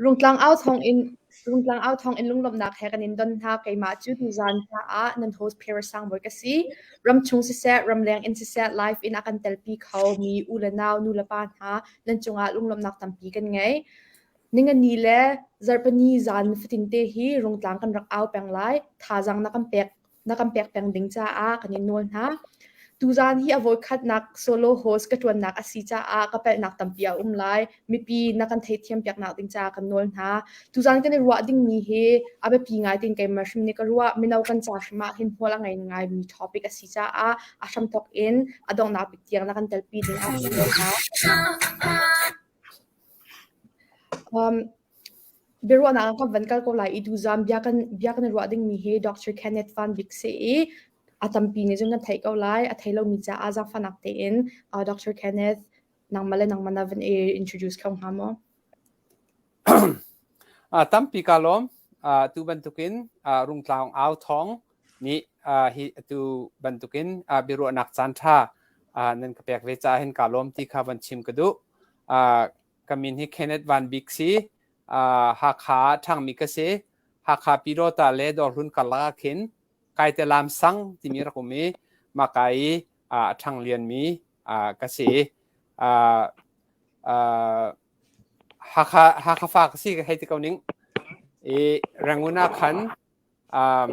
Rungtlang au thawng in lunglawmhnak he kan in don hna. Keimah cu tuzan hla ah nan host Phera Sangbawi ka si. Ram chung siseh, ramleng in siseh, live in a kan telpi kho mi u le nau, nu le pa hna, nan cungah lunglawmhnak tampi kan ngei. Ningani le Zarhpini zan fatin te hi Rungtlang kan rak au peng lai. Thazaang na kan pek na kan pek peng ding caah kan i nawl hna. Tuzaan hi a voikhatnak solo host ka ṭuannak a si caah ka palhnak tampi a um lai. Mipi na kan theithiam piaknak ding caah kan nawl hna. Tuzaan kan i ruah dingmi hi a biapi ngai tein keimah hrim nih ka ruah. Mino kan ca hrim ah hin hmual a ngei ngaimi topic a si caah a hramthawk in a donghnak bik tiang na kan telpi ding ah ka nawl hna. Um, Biaruahnak ah kan van kal ko lai i duhzam bia kan bia kan i ruah dingmi hi Dr. Kenneth Van Bik si i a tampi nih cun kan theih ko lai. A thei lomi caah zaangfahnak tein uh, Dr. Kenneth nangmah le nangmah na van i introduce kho hnga maw? uh, tampi ka lawm. Uh, tu bantukin uh, Rungtlaung Au Thawng nih uh, hi tu bantukin uh, biaruahnak caan ṭha uh, nan ka pek ve caah hin ka lawm ti kha van chim ka duh. Uh, ka min hi Kenneth Van Bik si uh, Hakha ṭhangmi ka si Hakha Pirota le Dorhlun karlak ah khin Kaite Lam Sang timi rak um i maka i uh, ṭhang lianmi uh, ka si uh, uh, Hakha Hakha fa ka si ka hei ti ko ning i Ranguna khan um,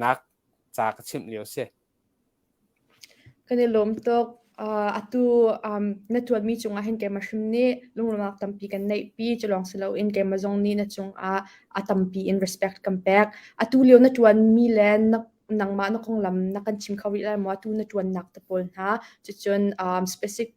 nak ca ka chimh lio si. Kan i lawm tuk. atu na tuanmi cungah hin keimah hrim nih lunglawmnak tampi kan neihpi. Culawng si loin keimah zong nih na cungah a tampi in respect kan pek. Atu lio na tuanmi le nangmah na konglam na kan chim kho rih lai maw? Atu na tuannak te pawl hna. Cucun specific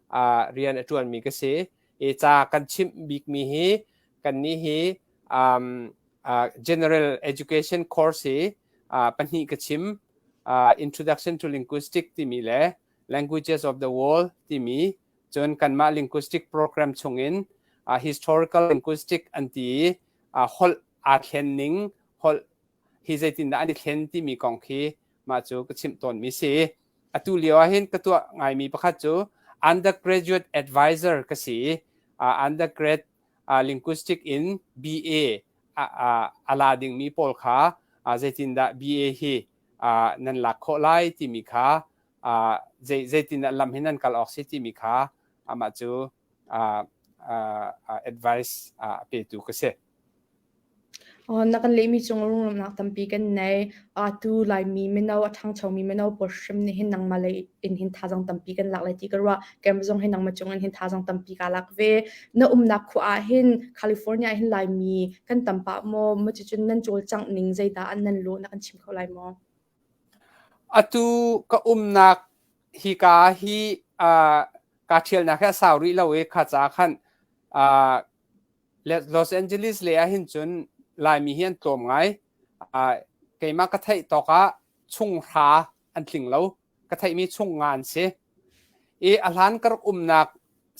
uh, rian a ṭuanmi ka si. I ca kan chimh bikmi hi kannih hi um, uh, general education course hi uh, pahnih ka chim uh, introduction to linguistic timi le languages of the world timi cun kanmah linguistic program chungin uh, historical linguistic an ti i uh, holh aa thlen ning holh hi zeitindah an i thlen timi kong khi mah cu ka chimh tawnmi si atu lio ah hin ka tuah ngaimi pakhat cu undergraduate advisor ka si uh, undergrad uh, linguistic in BA a la dingmi pawl kha uh, zeitindah BA hi uh, nan lak khawh lai timi kha uh, zeitindah lam hi nan kal awk si timi kha amah cu advice a petu ka si. na kan leimi cung runglamnak tampi kan nei atu laimi mino a ṭhangchomi mino pawl hrim nih hin nangmah lei in hin thazang tampi kan lak lai ti ka ruah kem zong hin nangmah cung in hin thazang tampi ka lak ve na umnak khua ah hin california hin laimi kan tampa maw macu cun nan cawlcangh ning zeidah an nan lo na kan chim kho lai maw Atu ka umnak hika hi aa kaa ṭhialnak hi a sau rih lo i kha ca khan aa Los Angeles lei ahhin cun Laimi hi an tlawm ngai. Aa keimah ka theih tawk ah chunghra an tling lo. Ka theihmi chunga an si. I a hlan ka rak umnak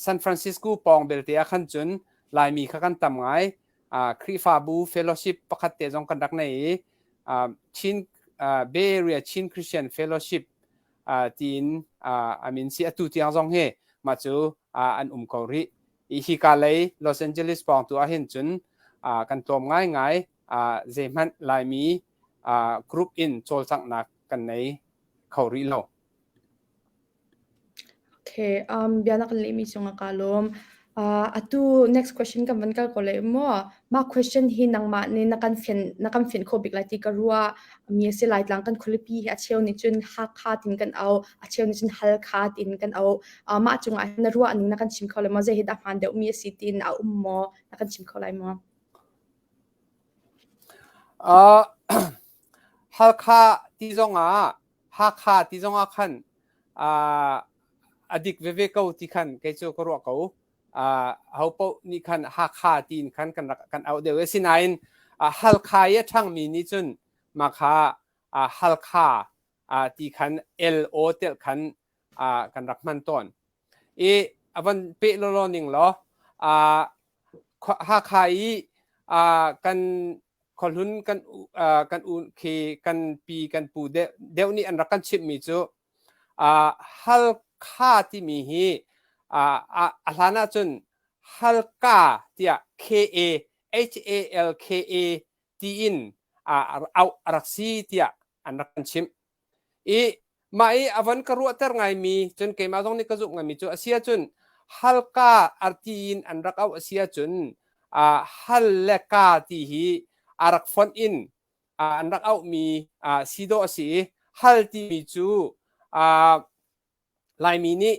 San Francisco pawng belte ahkhan cun Laimi kha kan tam ngai. Khrihfabu fellowship pakhat te zong kan rak nei i Chin Bay Area Chin Christian Fellowship tiin a min si atu tiang zong hi mah cu an um ko rih. I hika lei Los Angeles pawng tu ahhin cun kan tlawm ngaingai zeihmanh Laimi group in cawlcanghnak kan nei kho rih lo. Okay, um, bianak lehmi cungah kaa lawm. Uh, atu next question kan van kal ko lai maw? Mah question hi nangmah nih na kan fin na kan fin kho bik lai ti ka ruah. Mi si lai tlang kan khulipi hi a cheu nih cun hakha tin kan au, a cheu nih cun halkha tin kan au. Uh, mah cungah hin na ruah ning na kan chim kho lai maw? Zei hi dah hmaan deuhmi a si tin a um maw? Na kan chim kho lai maw? Uh, Halkha ti zongah Hakha ti zongah khan a dik veve ko ti khan kei cu ka ruah ko. Uh, ho paoh nih khan Hakha ti in khan kan rak kan auh deuh. Asinain uh, Halkha i a ṭhangmi nih cun mah kha uh, Halkha uh, ti khan LO telh khan uh, kan rak hman tawn. I a van peh lawlaw ning law uh, Hakha i uh, kan khuahlun kan kan u khi kan pi kan pu deuh deuh nih an rak kan chimhmi cu halkha timi hi a hlan ahcun halka tiah K A H A L K A tiin auh a rak si tiah an rak kan chimh. i mah i a van ka ruahter ngaimi cun keimah zong nih ka zumh ngaimi cu a si ahcun halka arti in an rak auh a si ahcun uh, hal le ka ti hi a rak fonh in uh, an rak auhmi uh, si dawh a si i hal timi cu uh, Laimi nih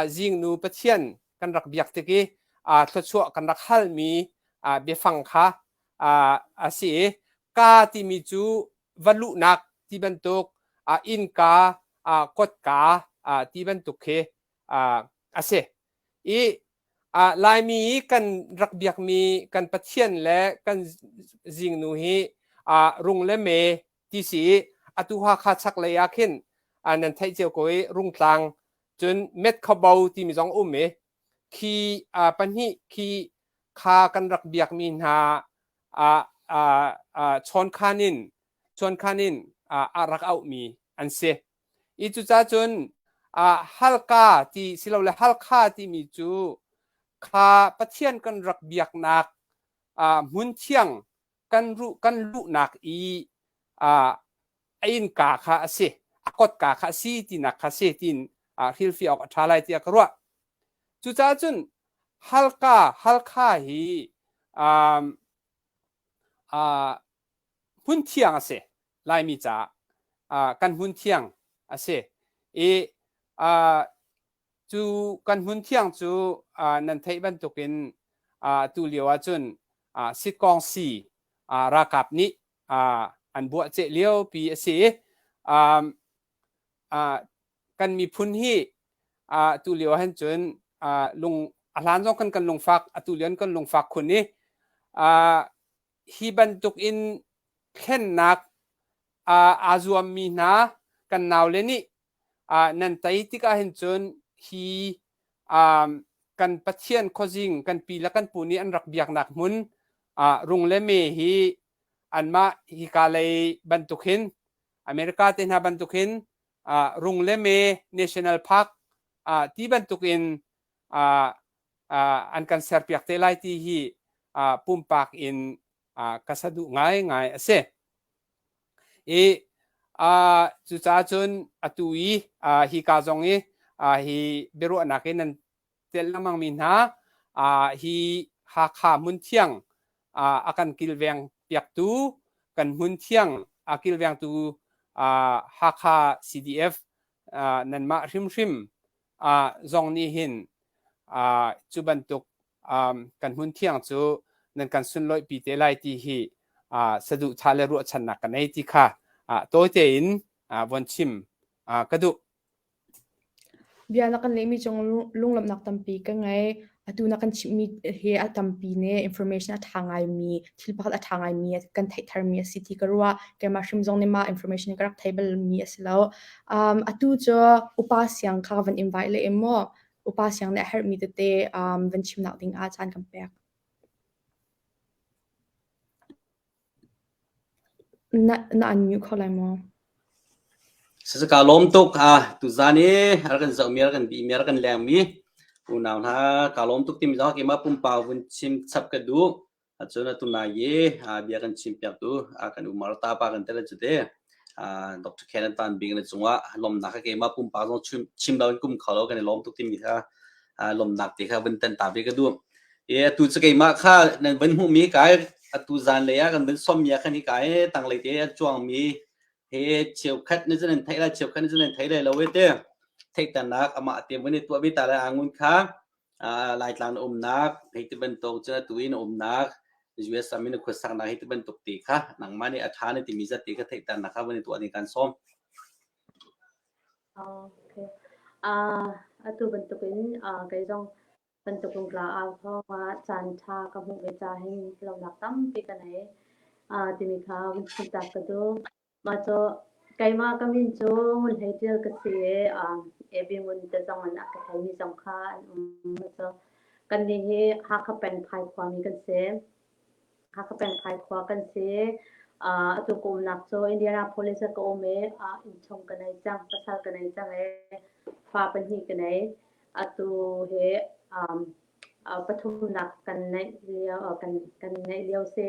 zingnu Pathian kan rak biak tik i thluachuah kan rak halmi biafang kha a si i ka timi cu va luhnak ti bantuk innka kotka ti bantuk khi a si. I Laimi i kan rak biakmi kan Pathian le kan zingnu hi rung le me ti si i atu Hakha chaklei ah khin nan theih cio ko i Rungtlang cun Metkhabo timi zong um i khi pahnih khi kha kan rak biakmi hna chawnkhan in chawnkhan in a rak auhmi an si i cucaah cun Halka ti silole Halkha timi cu kha Pathian kan rak biaknak hmun thiang kan luhnak i a innka kha a si, a kotka kha a si tinak kha si tiin hrilhfiah awk a ṭha lai tiah ka ruah. Cucaah cun Halka, Halkha hi hmun thiang a si, Laimi caah kan hmun thiang a si i cu kan hmun thiang cu nan theih bantukin tu lio ahcun sitkong si ralkap nih an buah ceh liopi a si kan miphun hi tu lio ahhin cun lung a hlan zong kan kan lungfak a tu lio an kan lungfak khun i hi bantukin thlennak aa zuammi hna kan naule nih uh, nan tai tik ah hin cun hi um, kan pathian khuazing kan pi le kan pu nih an rak biaknak hmun uh, rung le me hi anmah hika lei bantuk hin america te hna bantuk hin uh, rung le me national park uh, ti bantuk in uh, uh, an kan serpiak te lai ti hi uh, pumpak in uh, ka sadu ngai ngai ase i uh, cucaah cun atu i uh, hi ka zong i uh, hi biaruahnak in nan tel lengmang mi hna uh, hi Hakha hmun thiang uh, a kan kilveng piaktu kan hmun thiang a kilvengtu uh, Hakha CDF uh, nanmah hrimhrim zong nih hin cu bantuk kan hmunthiang cu nan kan sunlawihpi te lai ti hi saduhthah le ruahchannak ka nei ti kha tawite in von chim ka duh. Bia na kan lehmi cung lunglawmhnak tampi ka ngei. atu na kan chimhmi hi a tampi ne information a ṭha ngaimi thil pakhat a ṭha ngaimi kan theih tharmi a si ti ka ruah keimah hrim zong nih mah information ka rak thei balmi a si lo um, atu cu upa siang kha van invite le maw upa siang nih a herhmi tete um, van chimnak ding ah caan kan pek Na an nguh kho lai maw? Sisaka lawm tuk a tuzan i ral kan zohmi ral kan bihmi ral kan lengmi unau hna ka lawm tuk timi zong keimah pumpak vun chim chap ka duh. Ahcun atu lai i bia kan chimpiak tu kan u Martha pa kan tel cu te. Dr. Kenneth Van Bing le cungah lawmnak a keimah pumpak zong chim loin kum kho lo kan i lawm tuk timi kha lawmnak te kha vun tan ta ve ka duh. I atu cu keimah kha nan vun hmuhmi kai atu zan lei ah kan vun sawmmi ah khan hi kai tanglei te a cuangmi he cheukhat nih cun an theih la cheukhat nih cun an thei lai lo e te theihternak amah te vun i tuah ve ta lai angun kha Laitlang na umnak hei ti bantuk cun atu i na umnak US ram i na khuasaknak hi ti bantuk ti kha nangmah nih a ṭha na timi zat ti kha theihternak kha van i tuah ning kaan sawm. Okay. Atu bantukin kei zong bantukin tla au thawngah caan ṭha ka hmuh ve ca hin lonak tampi ka nei timi kha vun chimtak ka duh. Mah cu keimah ka min cu Ngun Hlei Ṭil ka si i, um, Abby Ngun te zong in a ka ṭhialmi zong kha an um. Mah cu kannih hi Hakha Pengphai khuami kan si. Hakha Pengphai khua kan si. Uh, atu ka umnak cu Indianapolis ah ka um i, uh, innchung ka nei cang, pasal ka nei cang i, fa pahnih ka nei. Atu hi um, uh, pathumnak kan neih lio, uh, kan, kan neih lio si.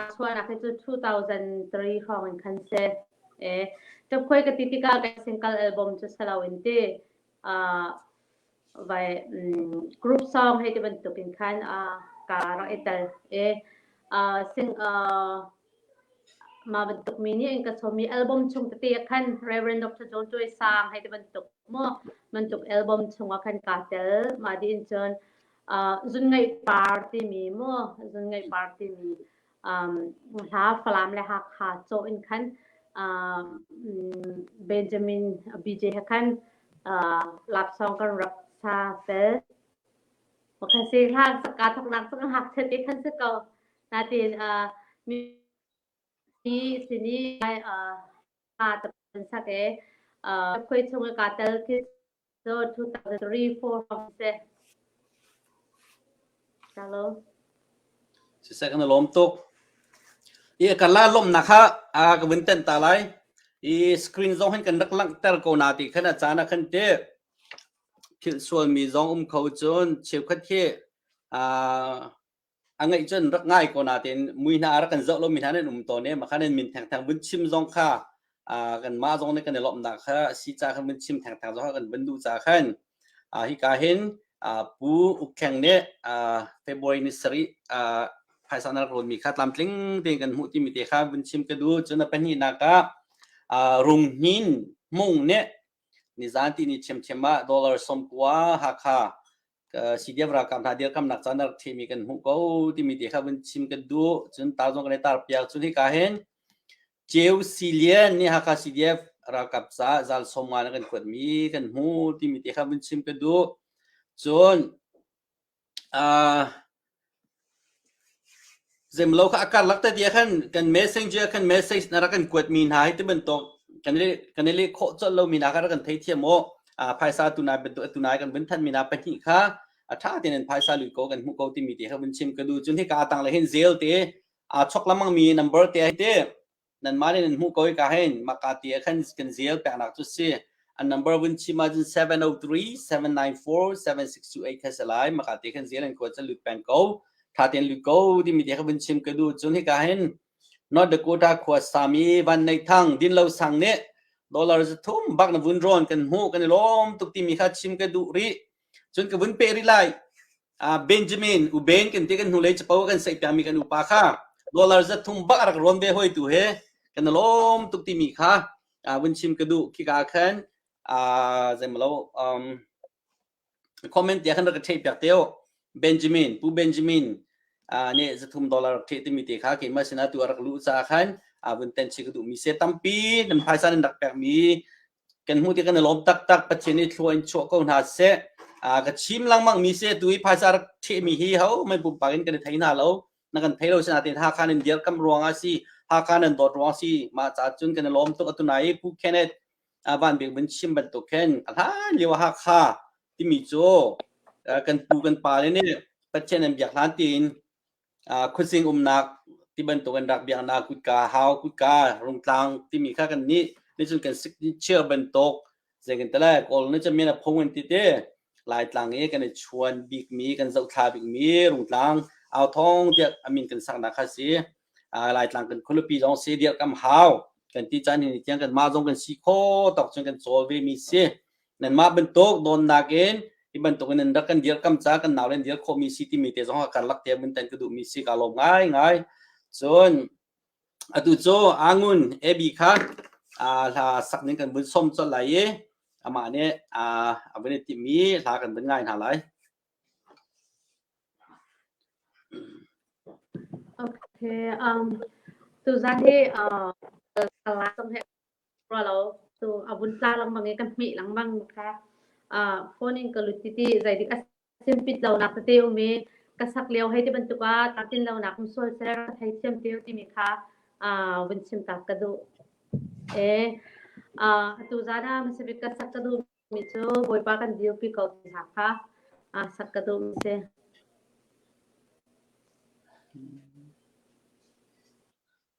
A chuahnak hi cu 2003 hrawng in khan si. Eh, ṭapkhuai ka ti tikah ka single album cu si lo in ti. Uh, vai um, group song hei ti bantuk in khan uh, ka rak i tel. Eh, uh, sing uh, ma bantuk mi nih in ka chomi album chung tete khan Reverend Dr. John Choi sang hei ti bantuk mo bantuk album chungah khan ka tel ma di in cun Zunngeih par timi maw, zunngeih par timi hla Falam le Hakha caw in khan Benjamin BJ he khan laksawng kan rak sa fel. Kan si hlan ka thaknak cung hak che te khan si ko. Natin mi sini a tan sak e khoi chung ka tal ki so 2003 4 from se Hello. Si second lom tuk. I kan la lom na kha a ka win ten ta lai. I screen zong hin kan rak lang ter ko na ti khana cha na khan te. Thil sual mi zong um kho chun chiu khat hi a a ngeih cun rak ngai ko natin mui hna rak kan zoh lo mi hna nan um tawn e ma khan min theng theng vun chim zong kha kan mah zong ne kan i lomh da kha si ca khan vun chim theng theng zong kan vun du ca khan hi ka hin pu ukheng ne february ni sari phaisa na rol mi kha tlam tling te kan mu ti mi te kha vun chim ka du cun a pahnih na ka rung hin mung ne ni zan ti ni chem chema dollar som kwa ha kha CDF ralkap hna dirkamnak caan rak themi kan hmuh ko timi te kha vun chim kan duh cun tar zong kan i tar piak cun hika hin Ceu Silian nih Hakha CDF ralkap caah zal sawmnga na kan kuatmi kan hmu timi te kha vun chim kan duh cun uh, Zeimlo kha a karlak te tiah khan kan messenger ah khan message na rak kan kuatmi hna hi tibantuk kan i kan i leh khawh colh lomi hna kha rak kan thei thiam u. Uh, phaisa tunai bantuk tunai kan vun thanmi hna pahnih kha a tha tein in phaisa lui ko kan hmuh ko timi te kha vun chim ka du cun hika tanglei hin zel te aa chok lamangmi number te hi te nanmah le nan hmuh ko hika hin maka ti ah khan kan zial peknak cu si an number win chim ahcun 703-794-7628 kha salai maka ti khan zial an kuat ca lut peng ko thaten lut ko timi ti kha vun chim ka du cun hika hin North Dakota khua sami van nei thang din lo sang ne dollar zu thum bak na vun ron kan hmu kan i lom tuk timi kha chim ka du ri Cun ka vun peh rih lai. Uh, Benjamin, Uben kan ti kan hnulei capo kan saih piakmi kan upa kha dollar zat thum bak a rak rawn ve hoi tu he kan lawm tuk timi kha uh, vun chim ka duh. Khika ah khan uh, zeimalo um, comment tia khan rak ka theih piak teo. Benjamin, Pu Benjamin, uh, ne zathum dollar rak theih timi te kha keimah sinah tu a rak luh ca khan uh, vun ten chi ka duh mi se tampi nan phaisa nan rak pek mi kan hmuh ti kan i lawm taktak Pathian i thlua in chuah ko hna seh ka chim lengmang mi se tu i phaisa rak ṭhehmi hi hohmanh pumpak in kan i thei hna lo na kan thei lo sinain Hakan in dirkamh ruangah si Hakan in dawt ruangah si mah caah cun kan i lawm tuk atu nai Pu Kenneth Van Bik Mun chim bantuk khin a hlan lio Hakha timi cu kan pu kan pa le nih Pathian an biak hlan tiin khuasing umnak ti bantuk an rak biaknak kutka hau kutka rungtlang timi kha kan nih nicun kan chiar bantuk zei kan tale kawl ni cha men a phung an ti te laitlang i kan i chuan bikmi kan zohthla bikmi rungtlang au thong tiah amin kan sakna kha si laitlang kan khulupi zong si dir kam hau kan ti chan hin tiang kan mah zong kan si kho tok cun kan chawl ve mi si Nanmah bantuk dawnnak in hi bantuk in nan rak kan dirkam ca kan nau le dir khawhmi si timi te zong kan lak te min ten ka duhmi si ka lawm ngai ngai cun atu cu angun ebi kha hla sak ning kan vun som col lai i amah nih a vun i timi hla kan vun ngai hna lai Okay, um, tuzan hi uh, the last of ra lo cu a vun tla lengmang i kan hmih lengmang kha phone in ka lut titi zeidik a sim pit lonak tete um i ka sak lio hei ti bantuk a tatin lonak um sual ser ka thei thiam teo timi kha vun chim tak ka duh e atu zan ah masabik ka sak ka duh mi cu bawipa kan dirpi ko ti hna kha sak ka duh mi si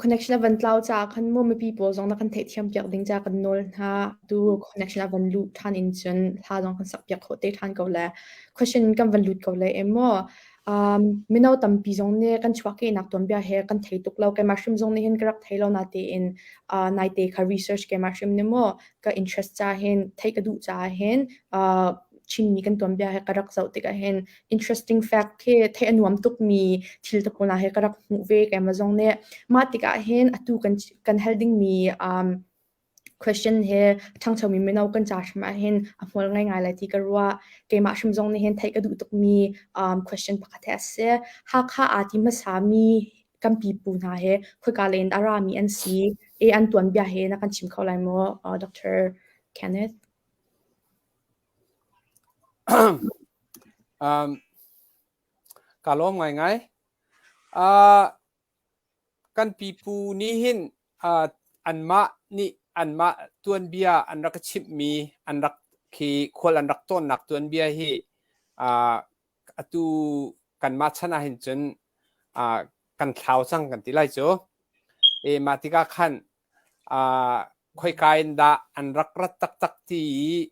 Connection a van tlau caah khan maw mipi pawl zong na kan theihthiam piak ding caah kan nawl hna. Tu connection a van lut ṭhan in cun hla zong kan sak piak khawh te ṭhan ko le question kan van lut ko le em maw? Mino tampi zong nih kan chuahkehnak tuanbia he kan thei tuk lo. Keimah hrim zong nih hin ka rak thei lo na tein naite ka research keimah hrim nih maw ka interest caah hin theih ka duh caah hin Chinmi kan tuanbia he ka rak zoh tikah hin interesting fact khi theih a nuam tukmi thil te pona he ka rak hmuh ve ke Amazon ne mah tikah hin atu kan kan holding mi um question he thangcho mi mino kan cha hrim ah hin a hmual ngai ngai lai ti ka rua keimah hrim zong nih hin theih ka duh tuk mi um question pakhat he ase hakha a ti hmasa mi kan pipu hna he khoika len a ra mi an si e an tuan bia he na kan chim kho lai maw uh, Dr. Kenneth Ka lawm ngaingai. Ah, kan pipu nih hin ah, anmah nih anmah tuanbia an rak i chimhmi an rak khi khual an rak tlawnnak tuanbia hi ah, atu kanmah chan ah hin cun ah, kan thlau cang kan ti lai cu. E, mah tikah khan khoika in dah an rak rat taktak ti i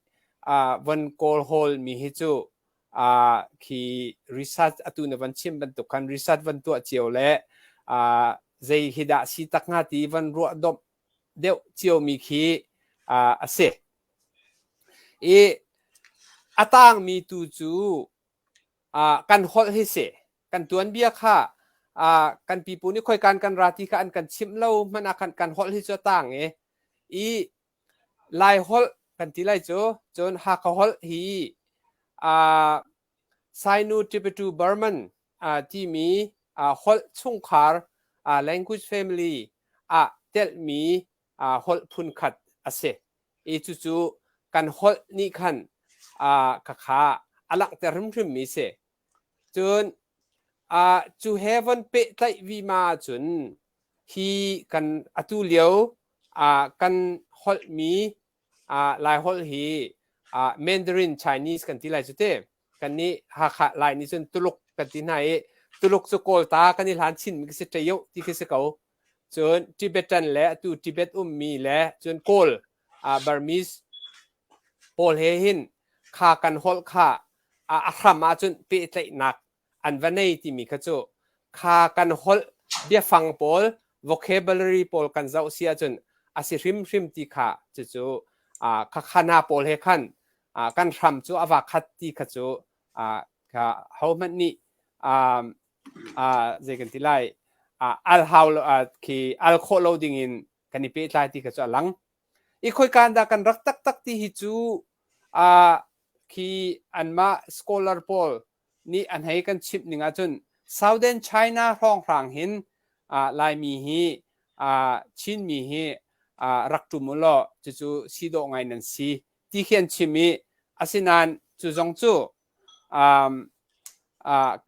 von kawlhawl mi hi cu khi research atu na von chim bantuk khan research von tuah cio le zei hi dah si tak hnga ti von ruah domh deuh cio mi khi a si i a tangmi tu cu kan holh hi si kan tuanbia kha uh, kan pipu nih khoikan kan ra ti kha an kan chimh lo hmana ah kan kan holh hi cu tang e i lai holh kan ti lai cu cun hakha holh hi uh, Sainu Tibetu Burman uh, timi uh, holh chungkhar uh, language family ah telmi uh, holh phun khat ase i cucu kan holh nih khan uh, kakha alangter hrimhrim mi se Cun ah cu he von pehtlaih vima ahcun hi kan atu lio ah kan holhmi ah Laiholh hi ah Mandarin Chinese kan ti lai cu ti. Kannih Hakha Lai nih cun Tuluk kan ti hna i Tuluk cu Kawlta kan i hlan chinmi ka si ṭeo ti khi si ko. cun Tibetan le atu Tibet ummi le cun Kawl uh, Burmese pawl he hin kha kan holh kha a hram ahcun pehtlaihnak an va nei timi kha cu kha kan holh biafang pawl vocabulary pawl kan zoh si ahcun a si hrimhrim ti kha cucu uh, khakhana pawl he khan uh, kan hram cu a va khat ti kha cu uh, hohmanh nih um, zei kan ti lai al hau lo khi al khawh lo dingin kan i pehtlai ti kha cu a lang. I khoika dah kan rak taktak ti hi cu khi anmah scholar pawl nih an hei kan chimh ning ahcun Southern China hrawnghrang hin Laimi hi Chinmi hi rak ṭum u law cucu si dawh ngai nan si ti khi an chim i asinain cu zong cu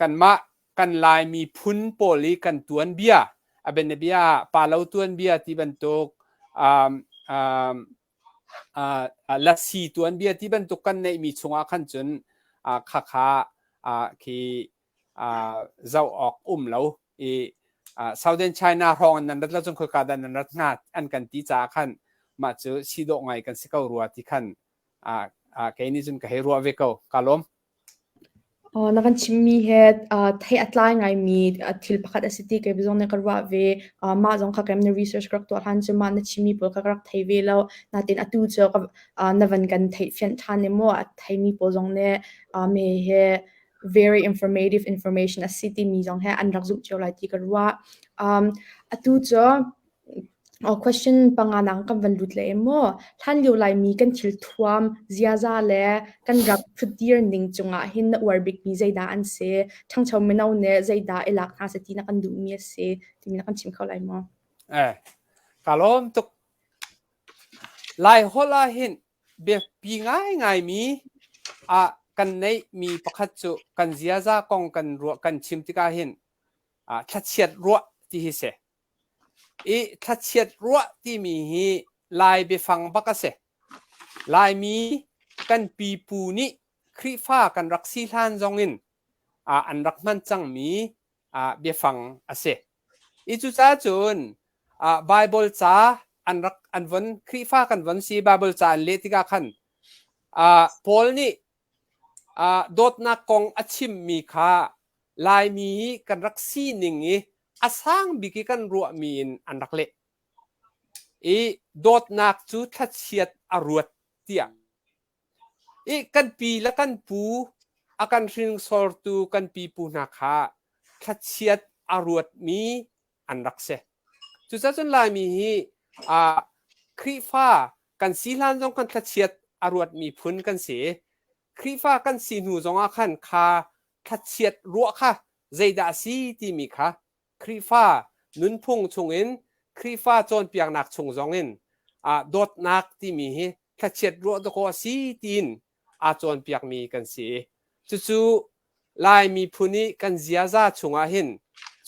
kanmah kan Lai miphun pawl i kan tuanbia, a bianabia ah Palo tuanbia ti bantuk, Lasi tuanbia ti bantuk kan neihmi chungah khan cun khakha khi zoh awk um lo i Southern China hrawng nan rat lo cun khoika dah nan rat hnga an kan ti caah khan mah cu si dawh ngai kan si ko rua ti khan ah ah kei nih cun ka hei ruah ve ko ka lawm Oh, na kan chimmi he uh, thei a tlai ngaimi uh, thil pakhat a si ti kei bizong na ka ruah ve uh, mah zong kha kem na research ka rak tuah hlan cu mah na chimmi pawl kha ka rak thei ve lo natin atu cu ka uh, na van kan theih fian ṭhan ne maw a theimi pawl zong ne uh, me he very informative information a si timi zong he an rak zumh cio lai ti ka ruah um, atu cu Question panga nang kan van lut leh maw? Hlanlio Laimi kan thilthuam ziaza le kan rak ṭhutdir ning cungah hin na uar bikmi zeidah an si? Ṭhangcho mino nih zeidah i lak hna seh ti na kan duhmi a si timi na kan chim kho lai maw? Eh, ka lawm tuk. Laiholh ahhin biapi ngaingaimi ah kan neihmi pakhat cu kan ziaza kong kan ruah kan chim tikah hin ah thlachiat ruah ti hi si. I thlachiat ruah timi hi Lai biafang bak a si. Laimi kan pipu nih Khrihfa kan rak si hlan zong in ah an rak hman cangmi ah biafang a si. I cucacun ah Bible ca an rak an von Khrihfa kan von si Bible ca an leh tikah khan ah Paul nih ah dawtnak kong a chimmi kha Laimi kan rak sining i a sang bik i kan ruahmi in an rak leh i dawtnak cu thlachiat a ruat tiah i kan pi le kan pu a kan hringsortu kan pipu hna kha thlachiat a ruatmi an rak si cucacun laimi hi uh, Khrihfa kan si hlan zong kan thlachiat a ruatmi phun kan si Khrihfa kan si hnu zongah khan kha thlachiat ruah kha Zeidah a si timi kha Khrihfa nunphung chungin Khrihfa cawnpiaknak chung zongin ah dawtnak timi hi thlachiat ruah dawkaw a si tiin aa cawnpiakmi kan si i cucu Lai miphun i kan ziaza chungah hin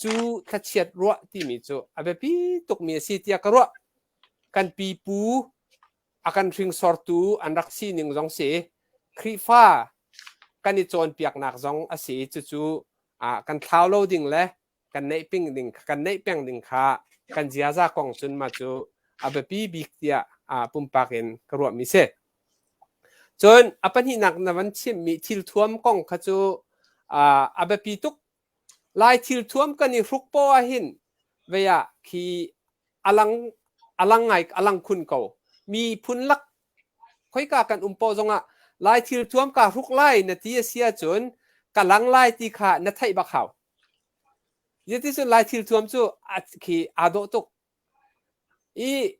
cu thlachiat ruah timi cu a biapi tukmi a si tiah ka ruah. Kan pipu a kan hringsortu an rak sining zong si Khrihfa kan i cawnpiaknak zong a si cucu kan thlau lo ding le kan neih ping ding kan neih peng ding kha kan ziaza kong cun ma cu a biapi bik tiah pumpak in ka ruahmi si cun a pahnihnak na van chimmi thil thuam kong kha cu a biapi tuk Lai thil thuam kan i hruk paoh ahhin vei ah khi a lang a lang ngai a lang khun ko. Miphun lak khoika kan um paoh zongah lai thil thuam kaa hruk lai na ti a si ahcun ka lang lai ti kha na theih bak hau. Zeiti cun lai thil thuam cu a khi aa dawh tuk. I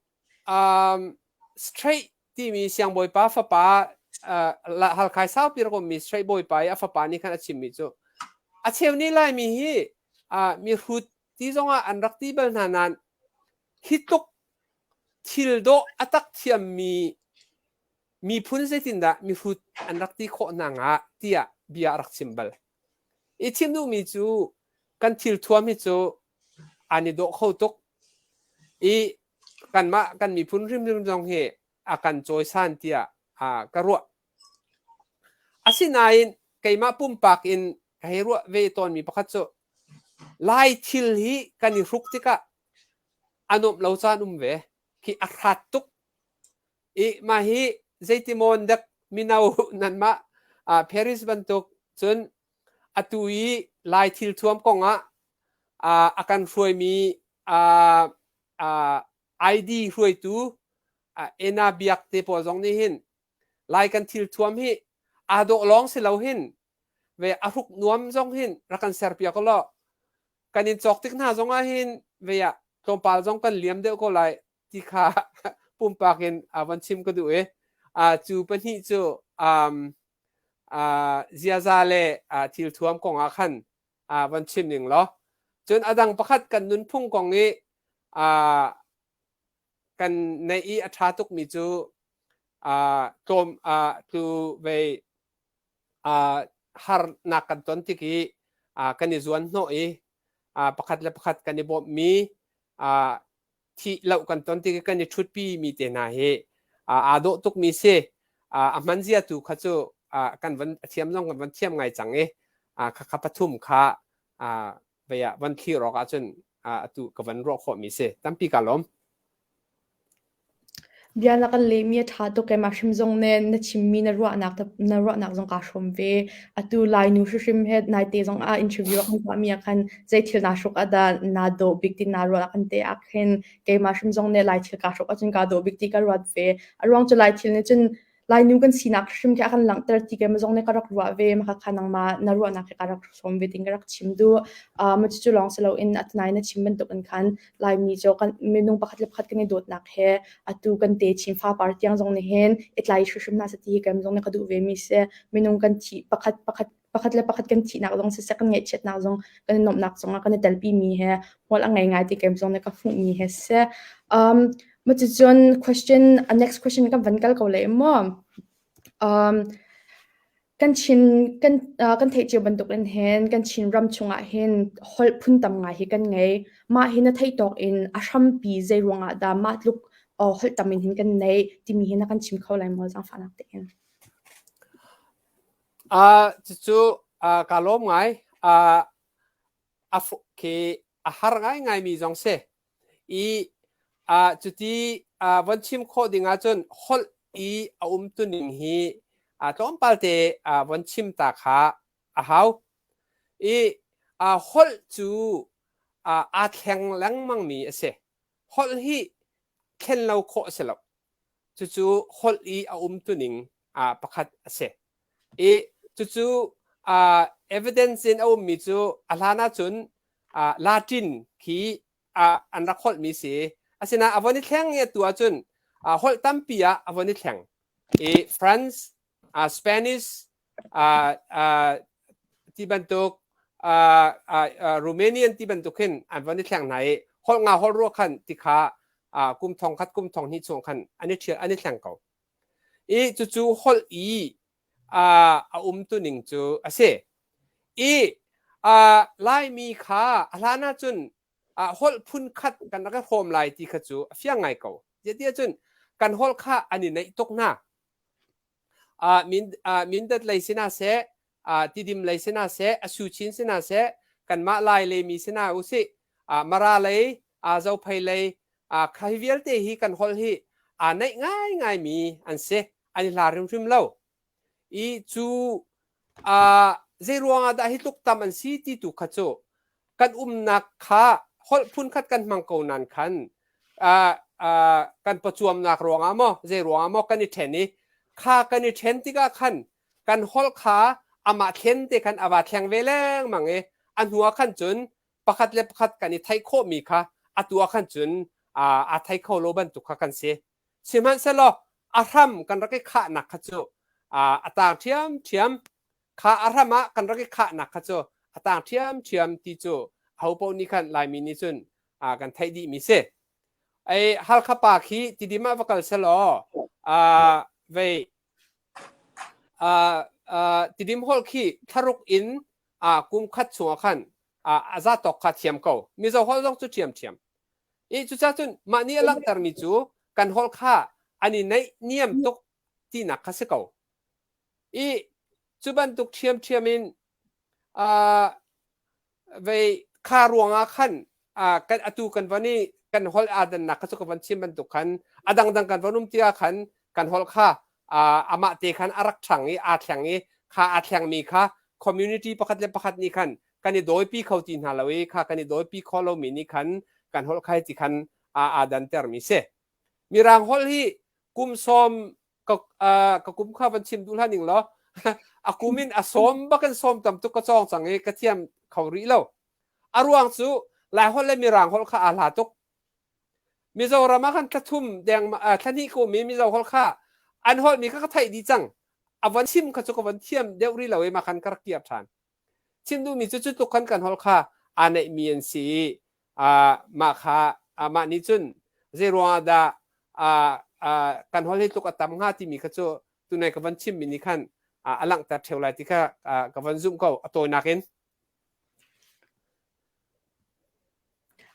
um, straight timi siangbawipa fapa uh, Halkhai saupi rak ummi straight bawipa i a fapa nih khan a chimmi cu a cheu nih Laimi hi uh, mihrut ti zongah an rak ti bal hna nain hi tuk thil dawh a tak thiammi miphun zeitindah mihrut an rak ti khawh hna hnga tiah bia a rak chim bal. I thim duhmi cu kan thil thuam hi cu an i dawh kho tuk i kanmah kan miphun hrimhrim zong hi a kan cawisan tiah a ka ruah. Asinain keimah pumpak in ka hei ruah ve tawnmi pakhat cu Lai thil hi kan i hruk tikah a nuamh lo caan um ve. Khi a hrat tuk. i mah hi zeitimawn dek mino nanmah uh, Paris bantuk cun atu i lai thil thuam kong ah uh, a kan hruaimi uh, uh, ID hruaitu uh, Ena Biak te pawl zong nih hin lai kan thil thuam hi a dawh lawng si lo hin ve a ruk nuam zong hin rakan serpia ko lo kan in cawk tik hna zong ah hin ve tlawmpal zong kan liam deuh ko lai ti kha pumpak in uh, van chim ka duh i uh, cu pahnih cu um, uh, ziaza le uh, thil thuam kong ah khan uh, van chim ning law cun adang pakhat kan nunphung kong i uh, kan neih i a ṭha tukmi cu uh, tlawm uh, tlu vei uh, harnak kan ton tik i uh, kan i zuan hnawh i uh, pakhat le pakhat kan i bawmhmi uh, thih lo kan ton ti kan i ṭhutpi mi te hna hi aa dawh tukmi si a hman zia tu kha cu kan van thiam zong kan van thiam ngai cang i khakha pathum kha vei ah van thlir awk ahcun atu ka van ruah khawhmi si tampi ka lawm Bia na kan lehmi a ṭha tuk e, mah hrim zong nih na chimmi na ruahnak te na ruahnak zong kaa hrawm ve. Atu Lainu hrim he naite zong ah interview a kan tuahmi ah khan zei thil naa hruk ah dah naa dawh bik ti naa ruah ah khan te ah khin keimah hrim zong nih Lai thil kaa hruk ahcun kaa dawh bik ti ka ruat ve. A ruang cu Lai thil nih cun Lainu kan sinak hrim khi a kan langhter ti ke ma zong nih ka rak ruah ve ma kha nangma na ruahnak hi ka rak sawm ve ding ka rak chim du uh, ma cu lawng si loin atanai na chim bantuk in khan laimi cho kan minung pakhat le pakhat kan i dawtnak he atu kan te chim fa par tiang zong ni hin itlai hrim na sa ti ke ma zong nih ka duh ve mi se minung kan thi pakhat pakhat pakhat le pakhat kan thihnak zong siseh kan ngaihchiatnak zong kan i nuamhnak zongah kan i telpimi he hmual a ngei ngai ti kem zong le ka hmuhmi he si um maticun question a next question kan van kal ko le maw um kan chin kan uh, kan theih cio bantuk in hen kan chin ram chungah hin hol phun tam ngai hi kan ngei ma hi na thei tok in a hrampi zei ruangah dah ma tluk uh, hol tamin hin kan nei timi hi na kan chim kho lai maw zang fa nak te in cucu kaa lawm ngai. A fuk khi a har ngaingai mi zong si. I cuti von chim khawh ding ahcun holh i a umtuning hi tlawmpal te von chim ta kha a hau. I holh cu aa thleng lengmang mi a si. holh hi thlen lo khawh a si lo. Cucu holh i a umtuning ah pakhat a si. I cucu uh, evidence in a ummi cu a hlan ahcun uh, Latin khi uh, an rak holhmi si. Asina avon i thleng i atu ahcun uh, holh tampi ah avon i thleng. I France, uh, Spanish, ti bantuk Romanian ti bantuk hin an von i thleng hna i holh nga holh ruah khan ti kha kum thong khat kum thong hnih chung khan an i an i thleng ko i cucu holh i a um tuning cu a si i Laimi kha a hlan ahcun holh phun khat kan rak i hrawm lai ti kha cu a fiang ngai ko. Tiah cun kan holh kha an i neih tuk hna. uh, min uh, mindat lei sina se uh, tidim lei sina se asuchin sina se kanmah lai le mi sina usi uh, mara lei uh, zo phai lei uh, khai vialte hi kan hol hi a uh, nei ngai ngai mi an se ani hla rim rim lo i chu zeiruangah dah hi tluk tam an si ti tu kha cu kan umnak kha holh phun khat kan hmang ko nan khan kan pawcuamnak ruangah maw zei ruangah maw kan i ṭhen i kha kan i ṭhen tikah khan kan holh kha amah thlen te khan a va thleng ve lengmang i a hnuah khan cun pakhat le pakhat kan i theih khawhmi kha atu ah khan cun a thei kho lo bantuk kha kan si Sihmanhsehlaw a hram kan rak i khahnak kha cu a taang ṭhiamṭhiam. Kha a hram ah kan rak i khahnak kha cu a taang ṭhiamṭhiam ti cu ahopaoh nih khan Laimi nih cun kan theih dihmi si. Ei Halkha pa khi tidim ah va kal selaw vei tidim holh khi thlaruk in kum khat chungah khan a zatawk kha thiam ko. Mizo holh zong cu ṭhiamṭhiam. i cucacun mah nih a langhtermi cu kan holh kha an i neih niam tuk tinak kha si ko i cu bantuk ṭhiamṭhiam in vei kha ruangah khan kan atu kan von i kan holh aa dannak kha cu ka von chim bantuk khan a dangdang kan von um tiah khan kan holh kha amah te khan a rak ṭhang i aa thleng i kha aa thlengmi kha community pakhat le pakhat nih khan kan i dawipi kho ti hna lo i kha kan i dawipi kho lomi nih khan kan holhkhai ti khan aa dantermi si. Mirang holh hi kum sawm ka ka kum kha van chim duh hlan ning law a kum in a sawm ba kan sawm tam tuk ka cawng cang i ka thiam kho rih lo. A ruang cu Lai holh le Mirang holh kha aa hla tuk. Mizoram ah kan thlathum dengmang thlahnih ka um i Mizo holh kha an holhmi kha ka theih dih cang. A von chim kha cu ka von thiam deuh rih lo i mah khan ka rak kir ṭhan. Chim duhmi cu cu tluk khan kan holh kha aa neihmi an si i aa mah kha aa mah nih cun zeiruangah dah aa aa kan holh hi tluk a tam hnga timi kha cu tunai ka von chimmi nih khan a langhter ṭheu lai ti kha ka von zumh ko a tawinak in.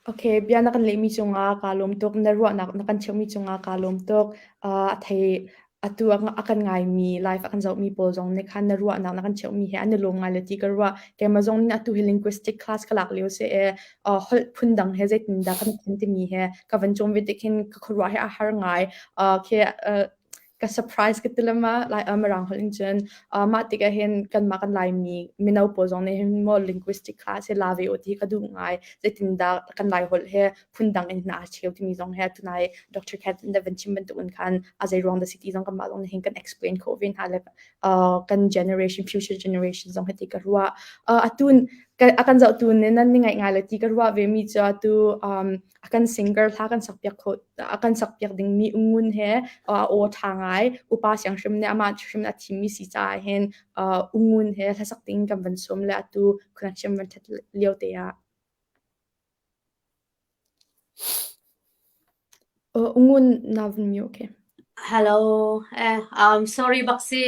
Okay, bia na kan lehmi cungah kaa lawm tuk. Na ruahnak na kan cheuhmi cungah kaa lawm tuk. Uh, a thei atu a, a kan ngaimi life a kan zohmi pawl zong nih khan na ruahnak na kan cheuhmi he an i lawm ngai le ti ka ruah. Keimah zong nih atu hi linguistic class ka lak lio se e uh, holh phundang he zeitindah kan thlen timi he ka van chom ve tik hin ka khuaruah he a har ngai. Uh, okay, uh, ka surprise ka tilam ma lai um rang hol in cun uh, mah tikah hin kanmah kan laimi mino pawl zong nih hin mo linguistic class he la ve o ti ka du ngai zeitin da kan lai hol he phun dang in na cheu timi zong he tunai Dr. Cat in Van Chim bantuk in khan a zei wrong the city zong kan mah zong hin kan explain ko ve hna le uh, kan generation future generation zong he ti ka ruwa uh, atun akan zau tu ne nan ni ngai ngai le ti ka ruwa ve mi cha tu um a kan singer hla kan sak piak kho a kan sak piak ding mi ngun he a aw tha ngai upa siang hrim ne ama hrim a thim mi si ca hin ngun he hla sak ding kan van som le atu khunang hrim van that lio te a ngun na vun mi okay hello eh um sorry baksi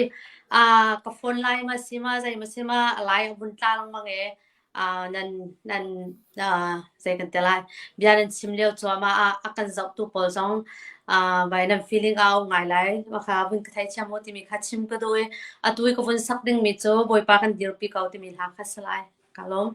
uh ka phone line ma sima zai ma sima lai vun tlang mang e bia nan chim lio cuahmah ah a kan zohtu pawl zong vai nan feeling a um ngai lai. Makha vun ka thei thiam u timi kha chim ka duh i atu i ka vun sak dingmi cu Bawipa kan dirpi ko timi hla kha si lai. Ka lawm.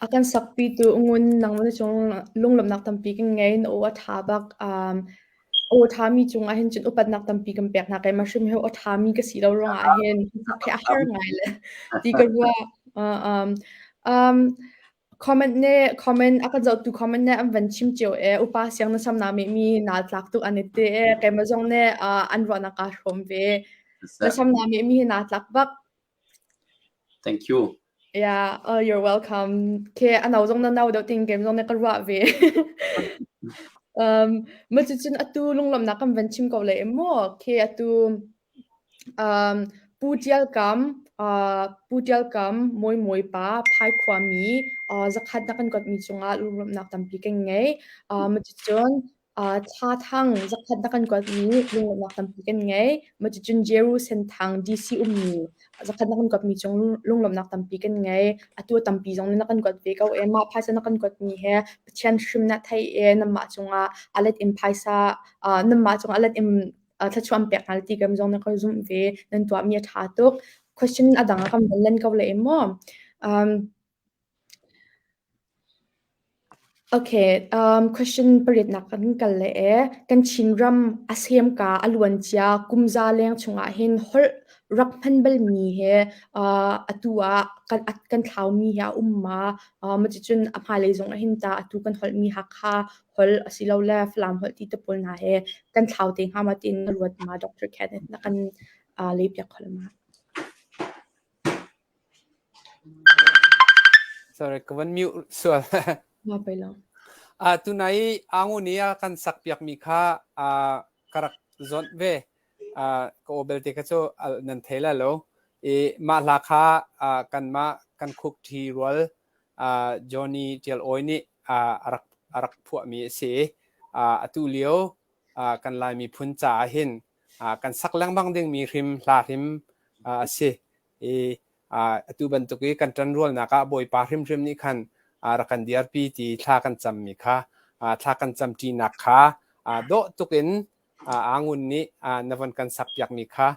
A kan sakpi tu ngun nang na chung lunglam nak tampi kan ngei na o a tha bak um o tha mi chung ah hin cun upat nak tampi kan pek na kai ma hrim he o tha mi ka si lo rong ah hin sak he a har ngai le ti ka rua uh, um um Comment nih comment a kan zohtu comment nih an van chim cio i upa siangnarsam na ngeihmi naa tlak tuk an i ti i keimah zong nih ah an ruahnak kaa hrawm ve. Nasam na ngeihmi hi naa tlak bak. Thank you. Yeah, uh, you're welcome. Okay, ano zong na nau deuh ting keim zong na ka ruah ve. um, macicun atu lunglomnak kan van chim ko le maw? Okay, atu Pu Ṭial Kam, Pu Ṭial Kam, Mawi Mawi pa, Phaikhuami, zakhat na kan kuatmi cungah lunglawmhnak tampi kan ngei. Cucun thla thang zakhat na kan kuatmi lunglawmhnak tampi kan ngei. Cucun Jerusalem thang DC ummi zakhat na kan kuatmi cung lunglawmhnak tampi kan ngei. Atu tampi zong na kan kuat ve ko ee. Mah phaisa na kan kuatmi hi Pathian hrim na theih ee. Nanmah cungah a let in phaisa, nanmah cungah a let in thluachuan pek hna ti kan zong na ka zumh ve nan tuahmi a ṭha tuk question a dang a kan von len ko le em maw um, Okay, um, question pariat nak kan kal le e kan Chinram asem ka aluan cia kumza leng chungah hin hol rak hman bal mi he uh, atu a kan at kan thlau mi he a um ma uh, ma ti cun a hma lei zong hin ta atu kan hol mi hakha holh asilole Falam holh ti te pawl hna he kan thlau te hnga ma tiin na ruat ma Dr. Kenneth na kan uh, leipiak hol ma. Sorry, ka van mute sual. Ma pai lo. Uh, tunai angu ni a kan sakpiak mi kha uh, karak zon ve uh, ka obel te ka chu uh, nan theila lo i ma hla kha uh, kan ma kan khuk thi rual Johnny Ṭial Awi nih a rak phuahmi a si i atu lio kan Lai miphun caah hin kan sak lengmang dingmi hrim hla hrim a si i atu bantuk i kan ṭanrualnak ah Bawipa hrimhrim nih khan rak kan dirpi ti thla kan cammi kha thla kan camṭinak kha dawh tuk in aa ngun nih na von kan sakpiakmi kha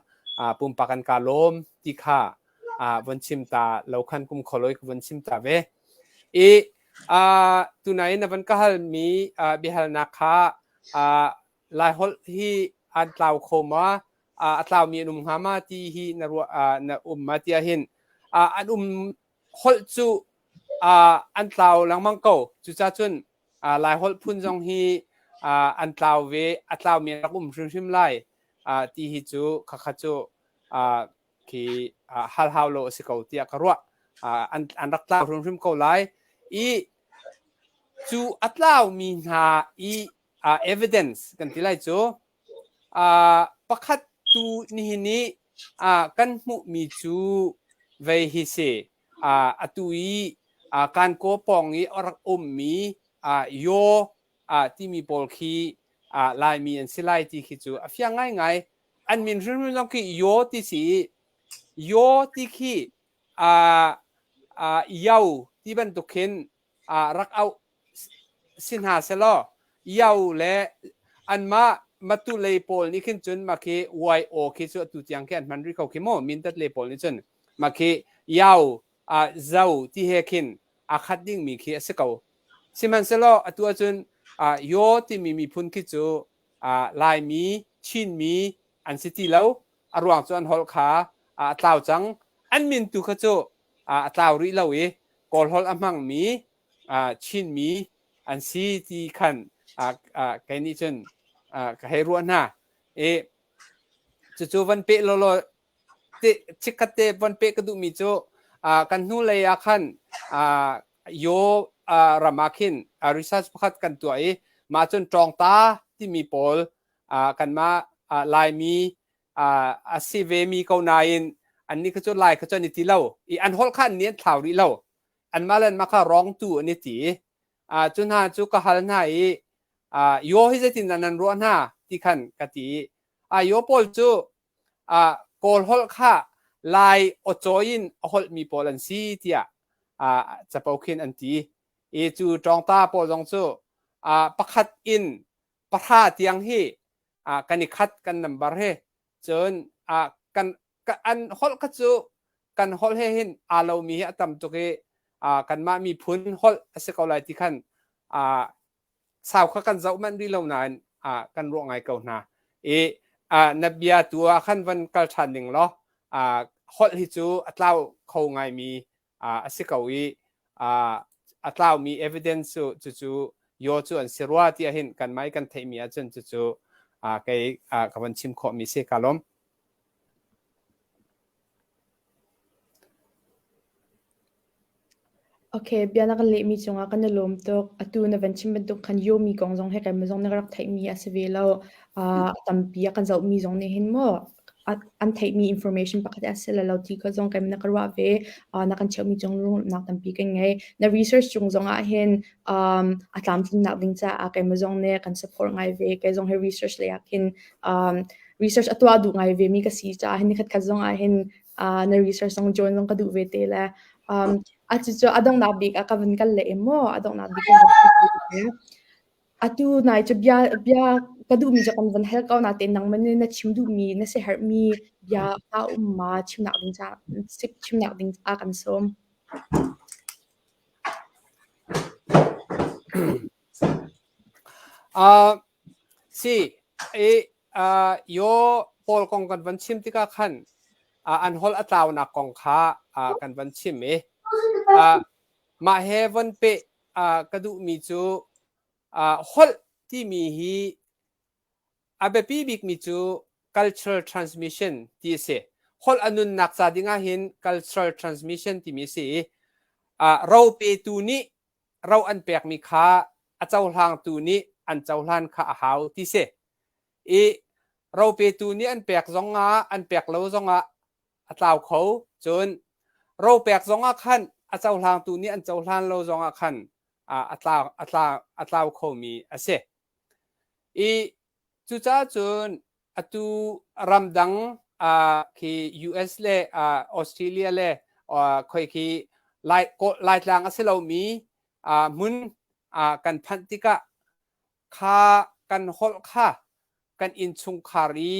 pumpak an ka lawm ti kha von chim ta lo khan kum khualoi ka von chim ta ve i tunain na von ka halmi biahalnak kha lai holh hi an tlau kho ma a tlaumi an um hnga ma ti hi na ruah na um ma tiah hin an um holh cu an tlau lengmang ko. Cucaah cun Laiholh phun zong hi an tlau ve, a tlaumi rak um hrimhrim lai ti hi cu khakha cu khi hal hau lo a si ko tiah ka ruah. An rak tlau hrimhrim ko lai. I cu a tlaumi hna i evidence kan ti lai cu Pakhat tu nihin i kan hmuhmi cu vei hi si. Atu i Kankaw pawng i a rak ummi Yaw timi pawl khi Laimi an si lai ti khi cu a fiang ngaingai. An min hrimhrim lawng khi Yaw ti si i Yaw ti khi Yau ti bantuk khin ah rak auh si hna selaw Yao le anmah matu lei pawl nih khin cun makhi YO khi cu atu tiang khi an hman rih ko khi maw mintat lei pawl nih cun makhi Yao uh, zau ti he khin a khat ding mi khi a si ko sihmanhselaw atu ahcun uh, yo timi miphun khi cu uh, laimi chinmi an si ti lo a ruang cu an holh kha uh, tlau cang an min tu kha cu a tlau rih lo i kawlholh a hmangmi Chinmi an si ti khan kei nih cun ka hei ruah hna i cucu van peh lawlaw chikkhat te van peh ka duhmi cu kan hnu lei ah khan yo ram ah khin research pakhat kan tuah i mah cun ṭawngta timi pawl kanmah Laimi a si vemi ko nain annih kha cu lai kha cu an i ti lo i an holh kha annih an thlau rih lo anmah le anmah kha rawng tu an i ti cu hna cu ka hal hna i yo hi zeitindah nan ruah hna ti khan ka ti a yo paul cu kawl holh kha lai awcaw in a holhmi pawl an si tiah capo khin an ti i cu ṭawngta pawl zong cu pakhat in pahra tiang hi a kan i khat kan nambar he cun a kan ka, an holh kha cu kan holh he hin aa lomi hi a tam tuk i a kanmah miphun holh a si ko lai ti khan a sau kha kan zoh manh rih lo nain a kan ruah ngai ko hna i a na bia tu ah khan van kal ṭhan ning law a holh hi cu a tlau kho ngaimi a si ko i a tlaumi evidence cu cucu yaw cu an si rua tiah hin kan mah i kan theihmi ahcun cucu kei ka von chim khawhmi si ka lawm. Okay, bia na kan lehmi cungah kan i lawm tuk. Atu na van chim bantuk khan yomi kong zong he kan zong na rak theihmi a si ve lo. A tampi a kan zohmi zong nih hin maw an theihmi information pakhat a si le lo ti kha zong kan na ka ruah ve na kan cheuhmi cung rumnak tampi kan ngei na research cung zong ah hin a tlamtlinnak ding caah keimah zong nih kan support ngai ve kei zong hi research lei ah khin research a tuah duh ngai vemi ka si caah hin nikhat khat zong ah hin na research zong join zong ka duh ve te le a cucu a donghnak bik ah ka van kal le maw a donghnak bik Atu nai cu bia bia ka duhmi cu kan van hal ko na tein nangman in na chim duhmi na si herhmi bia hna um ma chimnak ding ca chimnak ding a kan sawm. Uh, si, i uh, yo Paul kong kan van chim tikah khan uh, an hol atlaunak kong kha uh, kan van chim i uh, mah he von pe ka duhmi cu holh timi hi a biapi bikmi cu cultural transmission ti a si holh a nunnak ca ding ah hin cultural transmission timi a si i ro petu nih ro an pekmi kha a cohlangtu nih an cohlan kha a hau ti si i ro petu nih an pek zong ah an pek lo zong ah a tlau kho. Cun ropek zongah khan a cohlangtu nih an cohlan lo zongah khan a tlau a tlau a tlau khomi a si. I cucaah cun atu ramdang uh, khi US le uh, Australia le uh, khoi khi lai, lai tlang a si lomi uh, hmun uh, kan phanh tikah kha kan holh kha kan innchungkhar i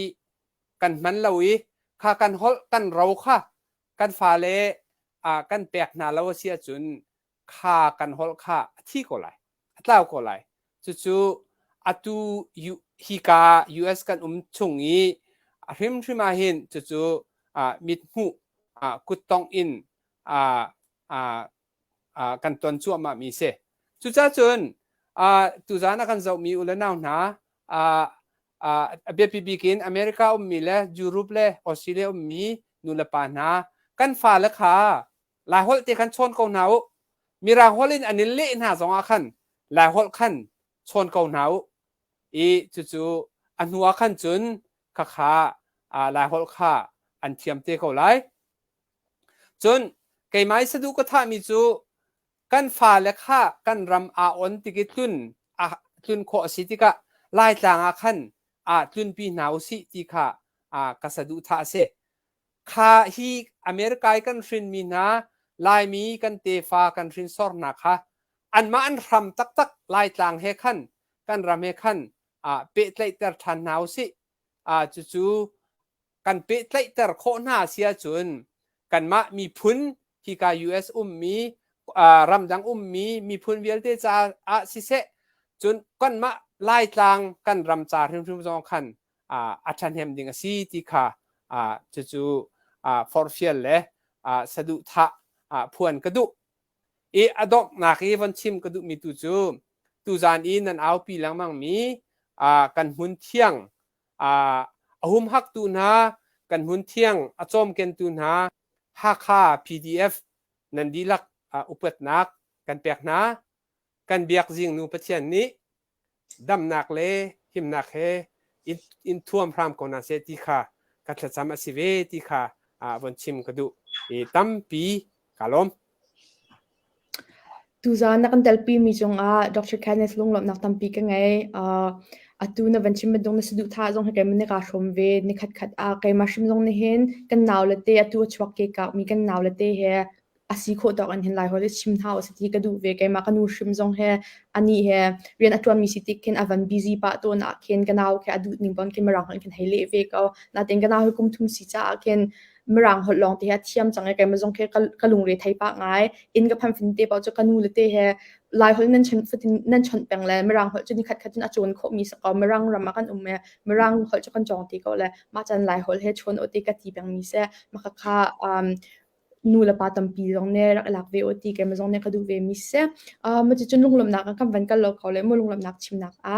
kan hman lo i kha kan holh kan ro kha kan fale uh, kan pek hna lo a si ahcun kha kan holh kha a thi ko lai a tlau ko lai cucu atu hika US kan um chung i a hrimhrim ah hin cucu uh, mit hmuh uh, kuttong in uh, uh, kan ton cuahmah mi si. Cucaah cun tuzaan a kan zohmi u le nau hna a biapi bik in America ummi le Europe le Australia ummi nu le pa hna kan fale kha Laiholh te khan chawn ko hna u. Mirahual in an i leh hna zongah khan Laiholh khan chawn ko hna u. I cucu a hnuah khan cun khakha Laiholh kha an thiam te ko lai. Cun keimah i saduh ka thahmi cu kan fale kha kan ram aa on tik i tlun a tlun khawh a si tikah Laitlang ah khan aa tlunpi hna u sih ti kha ka saduhthah a si. Kha hi America i kan hrinmi hna Laimi kan tefa kan hrinsor hna kha anmah an hram taktak Laitlang he khan kan ram he khan pehtlaihter ṭhan hna u sih. Cucu kan pehtlaihter khawh hna si ahcun kanmah miphun hika US ummi ramdang ummi miphun vialte caah siseh cun kanmah laitlang kan ram ca hrimhrim zong khan a ṭhahnem ding a si ti kha cucu forfial le saduhthah phuan ka duh i a donghnak i von chim ka duhmi tu cu tuzan i nan aupi lengmangmi kan hmun thiang a humhaktu hna, kan hmunthiang a cawmkentu hna Hakha PDF nan dihlak upatnak kan pek hna. Kan biakzing nu Pathian nih damnak le himnak he in thuam hram ko hna seh ti kha ka thlacam a si ve ti kha von chim ka duh i tampi ka lawm. Tuzaan na kan telpimi cungah Dr. Kenneth lunglawmhnak tampi ka ngei. Uh, atu na van chim bantuk na saduhthah zong hi keimah nih kaa hrawm ve. Ni khatkhat ah keimah hrim zong nih hin kan nau le te atu a chuak ke kaumi kan nau le te he a si khawh tawk an hin lai hoi le chim hna usih ti ka duh ve. Keimah ka nu hrim zong he ani he rian a ṭuanmi si tik khin a van busy pah tawn ah khin ka nau khi a duh ning bon keimah rang hoi khin hei leh ve ko. Nain ka nau hi kum thum si caah khin Mirang holh lawng te ha thiam cang e kai ma zong khi ka lungre thei pa ngai in ka phan fin te pa chu ka nu le te he lai holh nan chon fatin nan chon peng le mirang holh chu ni khat khat cun a chon kho mi sako mirang ram kan um e mirang holh chu kan jong ti ko le ma chan lai holh he chon o te ka ti peng mi se ma ka kha um nu le pa tampi zong ne rak lak ve o ti kai ma zong ne ka du ve mi se ma chu chun lunglom nak kan van kal lo kho le mu lunglom nak chim nak a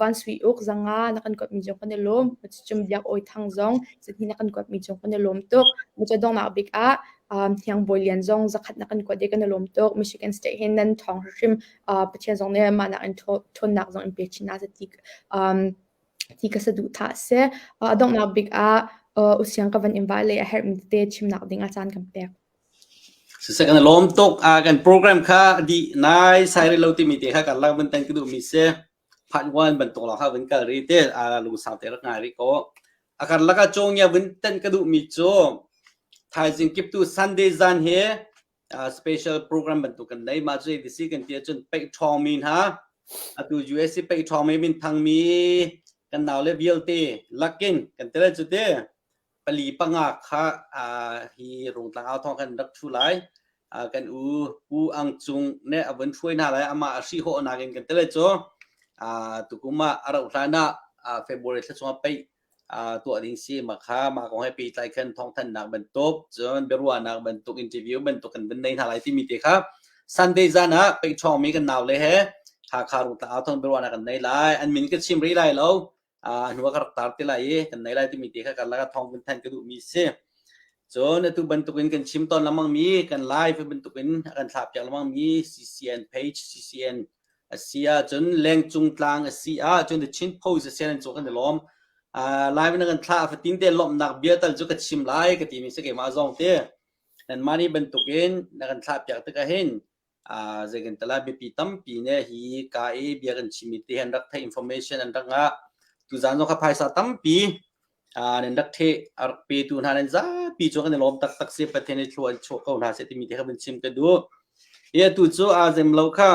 van sui uk zanga na kan kuatmi cu kan i lawm. Cucun Biak Awi Thang zong sihni na kan kuatmi cu kan i lawm tuk. Macaw donghnak bik ah Hniang Bawi Lian zong zakhat na kan kuat i kan i lawm tuk. Michigan State hin nan thawng hrimhrim Pathian zong nih mahnak in ṭhawnnak zong in pe chin hna seh ti ka saduhthah a si. A donghnak bik ah U Siang ka van invite le a herhmi tete chimnak ding a caan kan pek. Siseh kan i lawm tuk. Ah kan program kha a dih naisai rih lo timi te kha kan lang vun tanh ka duhmi si. Part one bantuk lawng kha vun kal rih te. Ah lungsau te rak ngai rih ko. A kan laka cawngia vun tanh ka duhmi cu thaizing kip tu Sunday zan hi ah special program bantuk kan nei. Mah cu ei disi kan ti ahcun pei ṭhawngmi hna atu USA pei ṭhawngmi min thangmi kan naule vialte lakin kan tele cu te pali panga kha hi rungtlang au thong kan rak thu lai kan u u ang cung ne avon thuai na lai ama asi ho na gen kan tele cho tukuma arau hlana february thla chunga pai to ding si ma kha ma ko he pi tlai khan thong than nak ban top chon berwa nak ban tuk interview ban tuk kan ban nei na lai ti mi te kha sunday zana pe chong mi kan naw le he ha kha ru ta au thong berwa na kan nei lai an min ka chim ri lai lo uh, hnu ka rak tar ti lai i kan nei lai timi te kha kan laka thawng vun thanh ka duhmi si cun atu bantukin kan chim ton lamang mi kan live bantukin kan thlap piak lamang mi ccn page ccn asi ahcun lengcung tlang asi ahcun the chin post asi nan cu kan i lawm uh, live na kan thla fatin te lomnak bia tal cu ka chim lai ka ti mi si keimah zong te kan mani bantukin na kan thlap piak tikah hin Zeigantala biapi tampi ne hi ka i bia kan chimmi te an rak theih information an rak ngah. Tuzaan zong kha phaisa tampi nan rak theih a rak petu hna nan zapi cu kan i lawm taktak si Pathian i thlua chuah ko hna seh timi te kha kan chim ka duh. Hi atu cu aa zem lo kha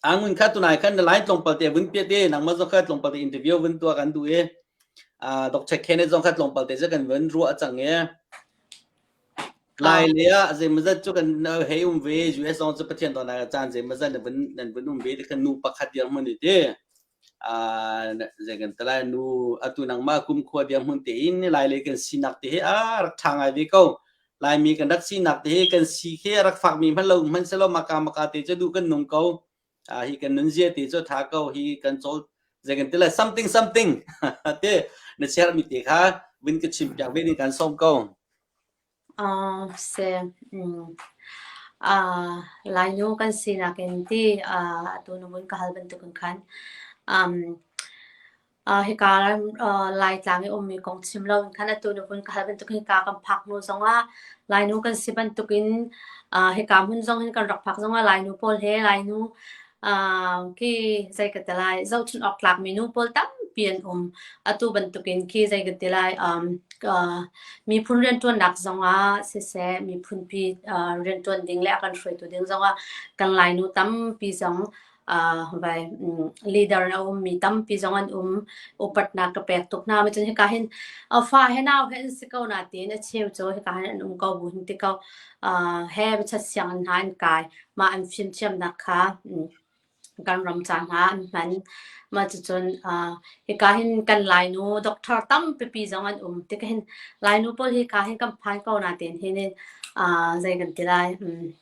angun kha tunai khan na line tlawmpal te vun piat e nangmah zong kha tlawmpal te interview vun tua kan duh e. Dr. Kenneth zong kha tlawmpal te se kan vun ruah a cang e. Lai le ah zeimawzat cu kan hei um ve. US zong cu Pathian dawtnak a caan zeimawzat nan vun nan vun um ve. Tikhan nu pakhat dirhmun i ti. Ah zei kan ti lai nu atu nangmah kumkhua dirhmun tein Lai le kan sinak te hi a rak ṭha ngai ve ko. Laimi kan rak sinak te hi kan si khi a rak fakmi hmanh lo hmanhsehlaw maka maka te cu duh kan nung ko. Ah hi kan nun zia te cu tha ko hi kan cawl zei kan ti le something something te na share mi te kha win ka chim piak ve ni kan som ko uh, se um, uh, lainu kan sinak in ti uh, atu nu bun ka hal ban tukun khan um, hika Laitlang i ummi kong chim loin khan atu ni vun ka hal bantukin hika kan phak hnu zongah Lainu kan si bantukin hika hmun zong hin kan rak phak zongah Lainu pawl he Lainu ki zei ka ti lai zohchunh awk tlakmi nu pawl tampi an um. Atu bantukin ki zei ka ti lai miphun rianṭuannak zongah siseh miphunpi rianṭuan ding le a kan hruaitu ding zongah kan Lainu tampi zong vai leader na um mi tampi zong an um upatnak ka pek tuk hna ma cun hika hin fa he nau he an si ko na tiin a cheu cu hika hin an um ko bu hin ti ko he bachat siang an hna an kai ma an fim thiam nak kha kan ram ca hna an hman ma cu cun hika hin kan lainu doctor tampi pi zong an um ti ka hin lainu pawl hika hin kan phan ko na tiin hin in zei kan ti lai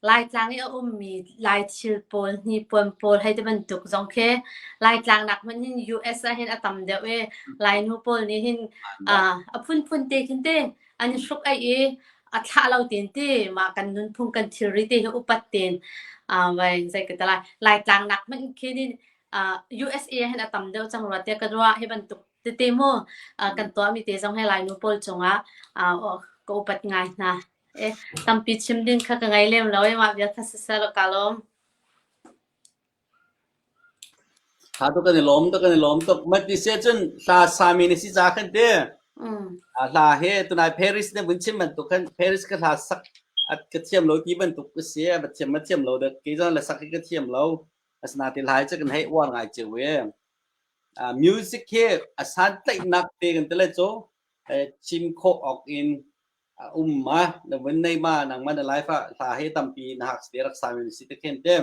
Laitlang i a ummi Laithil pawl, hnipuan pawl hei ti bantuk zong khi Laitlangnak hmanh hin US ah hin a tam deuh i Lainu pawl nih hin ah a phunphun te khin ti an i hruk-aih i a thlah lo tein ti mah kan nunphung kan thilri te hi upat tein ah vai zei ka ti lai Laitlangnak hmanh khi hin ah USA ah hin a tam deuh cang rua tiah ka ruah hi bantuk tete maw ah kan tuahmi te zong hi Lainu pawl cungah ah ka upat ngai hna. Tampi chim ding kha ka ngei lem lo i mah vialte siseh kaa lawm. Tha tuk kan i lawm tuk kan i lawm tuk. Mat ti seh cun hla sami na si ca kan ti. Mm. A hla he tunai Paris na vun chim bantuk khan Paris ka hla sak a ka thiam lo ti bantuk ka si. A thiam ma thiam lo dah kei zong le sak hi ka thiam lo. Asinain ti lai cu kan hei uar ngai cio e. Uh, music hi a santlaihnak te kan ti le cu uh, chim khawh awk in a um ma na vun nei ma nang man na life ah hla he tampi na hak te rak sa mi si te khen te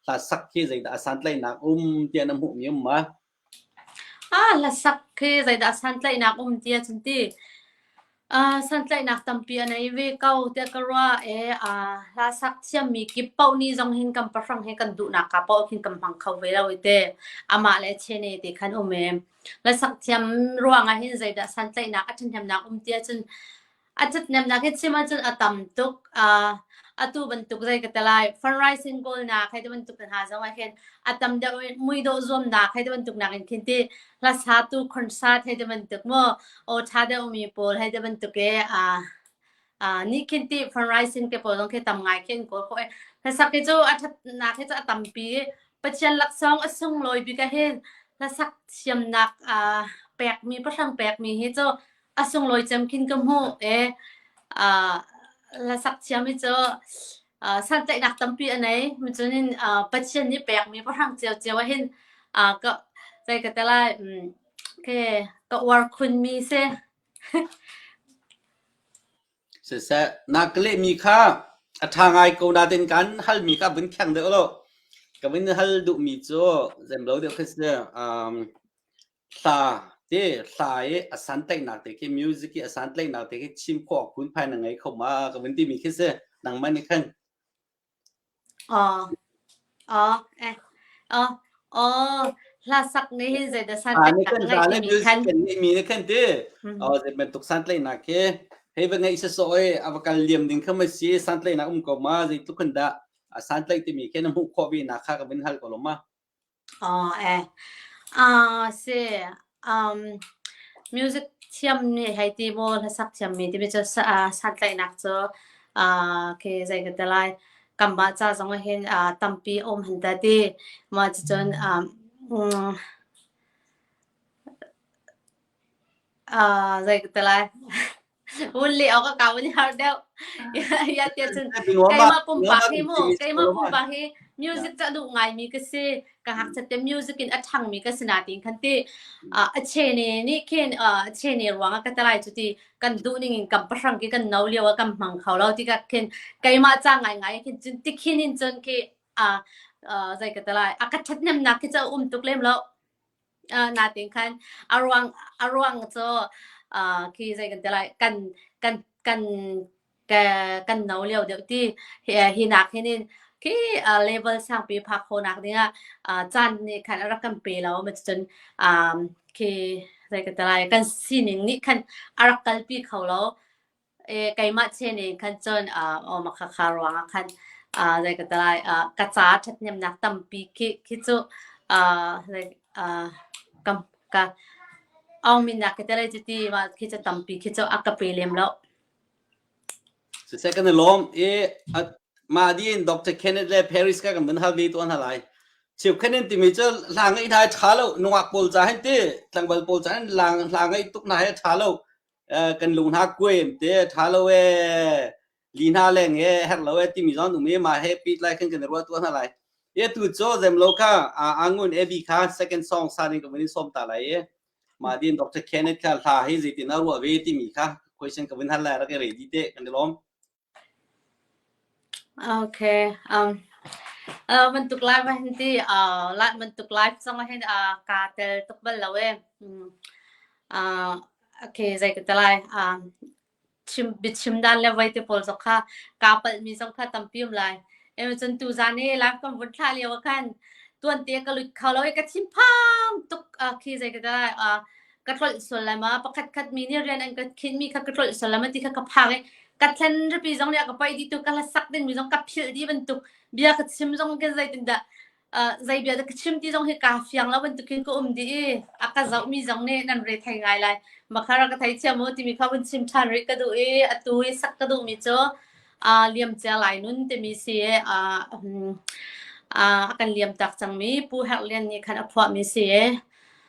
hla sak khi zei da asan tlai nak um tia na mu mi um ma ah hla sak khi zei da asan tlai nak um tia chun ti a san tlai nak tampi anei ve ko te karwa e a hla sak thiam mi kip pau ni zong hin kam pahrang he kan du na ka po khin kam hmang kho ve lo te ama le chene te khan um em Na sakthiam ruangah hin zeidah santlaihnak a ṭhahnemnak um ti ahcun a ṭhahnemnak hi chim ahcun a tam tuk. Uh, atu bantuk zei ka ti lai fundraising kawlnak hei ti bantuk hna zongah hin a tam deuh in muidawh zuamnak hei ti bantuk nakin khin ti hlasatu concert hei ti bantuk maw aw ṭha deuhmi pawl hei ti bantuk i uh, a ni khin ti fan rising te pawl dong khi tam ngai khin ko ko hlasak ke chu a that na ke chu a tampi pathian laksong a sung loi bi ka he hlasak siamnak a pek mi pathang pek mi hi chu a sung loi cem khin ka mu e a hlasak siam hi chu san tlaih nak tampi anei mi chunin pathian ni pek mi pathang chiao chiao a hin ka sai ka telai ke ka war khun mi se Siseh, na ka lehmi kha a ṭha ngai ko nain kan halmi kha vun kheng deuh law ka vun hal duhmi cu zeim lo deuh khi si. Um, hla ti hla i a santlaihnak te khi music i a santlaihnak te khi chim khawh phunphai na ngei kho ma ka vun timi khi si. Nangmah nih khan. Hla sak nih hin zeidah sanṭikat a ngeih timi khan. Kan ngeih mi nih khan ti zei bantuk santlaihnak hi hei va ngeih sasawh oi a va kal liam ding kham a si santlaihnak um ko ma zei tluk khan dah santlaih timi khi na hmuh khawh vi na kha ka vin hal ko lo ma. Music thiammi hei ti maw, hlasak thiammi timi cu santlaihnak cu zei ka ti lai, kan mah ca zong ahhin tampi a um han ta ti. Mah cucun zei ka ti lai. Vun leh awk a kaun i harh deuh. Tiahcun Hei Luama keimah Luama pumpak hi mu, timi cu keimah Luama pumpak hi music ca duh ngaimi ka si. Ka ngakchiate music in a ṭhangmi ka si na tiin khan ti, ah a chene nih khin ah a chene ruangah ka telai cu ti kan duhning in kan pahrang khi kan no lio ah kan hmang kho lo tikah khin keimah ca ngaingai ah khin cun tikhin in cun khi, ah, ah, zei ka telai, a ka ṭhathnemnak khi cu a um tuk lem loh. Uh, natin khan a ruang a ruang cu uh, khi zei kan te lai kan kan kan ka kan no leo deuh ti hi, hi nak hin in khi uh, level sang pi phak ho nak ding ah uh, chan ni khan rak kan pe lo ma cun um, khi zei ka te lai kan sining nih khan a rak kalpi kho lo Eh, keimah chen in khan cun, ah, aw makhakha ruangah khan, ah, zei ka ti lai, ah, ka ca ṭhathnemnak tampi khi khi cu, ah, like, ah, ka ka Aung Min nak ka ti lai cuti ma khi cu tampi khi cu a ka pe lem lo. Siseh kan i lawm i a mah di in Dr. Kenneth le Paris ka kan vun hal ve tuan hna lai. Chiu khen in timi cu hla ngaih dai ṭha lo nungak pawl ca hin ti tlangval pawl ca hin hla hla ngaih tuk hna hi a ṭha lo. kan lung hna kuem te tha lo e li hna leng he her lo e timi zon um e ma he pit lai khan kan ruwa tua hna lai e tu cho zem lo kha angun evi kha second song sa ni ka vin som ta lai e ma din dr kenneth kha hla hi zitin a ruwa ve timi kha question ka vin hal la ra ke ready te kan lom Okay. Um, uh, bantuk live ah hin ti uh, live bantuk live zong ah hin uh, kaa tel tuk bal lo e. Mm. Uh, okay, zei ka tel lai. Um, chim, bichim dan le vai te pawl zong kha kaa palh mi zong kha tampi um lai. Ema cun tu zan i live kan vun thla lio ah khan tuan te ka lut kho lo e ka thin phang tuk uh, khi zei ka tel lai. Uh, ka tlolh sulam a pakhat khat mi nih rian an ka khin mi kha ka tlolh sulam a ti kha ka phang i ka thlen ripi zong nih a ka pai di tu ka hlasak ding mi zong ka phil di bantuk bia ka chim zong ke zei tin dah zei bia da ka chim ti zong hi ka fiang lo bantuk hin ka um di i a ka zoh mi zong nih nan re thei ngai lai makhara ka thei thiam u timi kha kun chim than ri ka duh i a tu i sak ka duh mi cu liam cia lai nun timi si a kan liam tak cang mi pu herlian nih khan a phuah mi si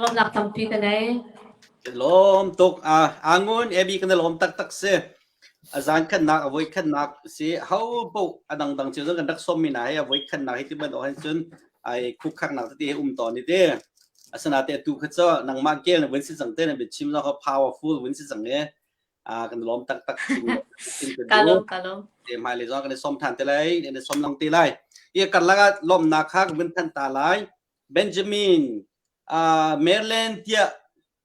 Lawmnak tampi ka nei. Lawm tuk. Ah, angun ebi kan lawm taktak si. a zaankhatnak a voikhatnak si hopoh a dangdang cun kan rak sawmmi hna hi a voikhatnak hi ti bantuk hin cun ai khukkhaknak tete um ton hi te asinate tu kha cu nangmah kel na vun si cang te na bia chim zong powerful vun si cang e a kan lom tak tak kalom kalom te mai le zong kan som than te lai ne som lang te lai ye kar laga lom na kha vun than ta lai benjamin uh maryland tia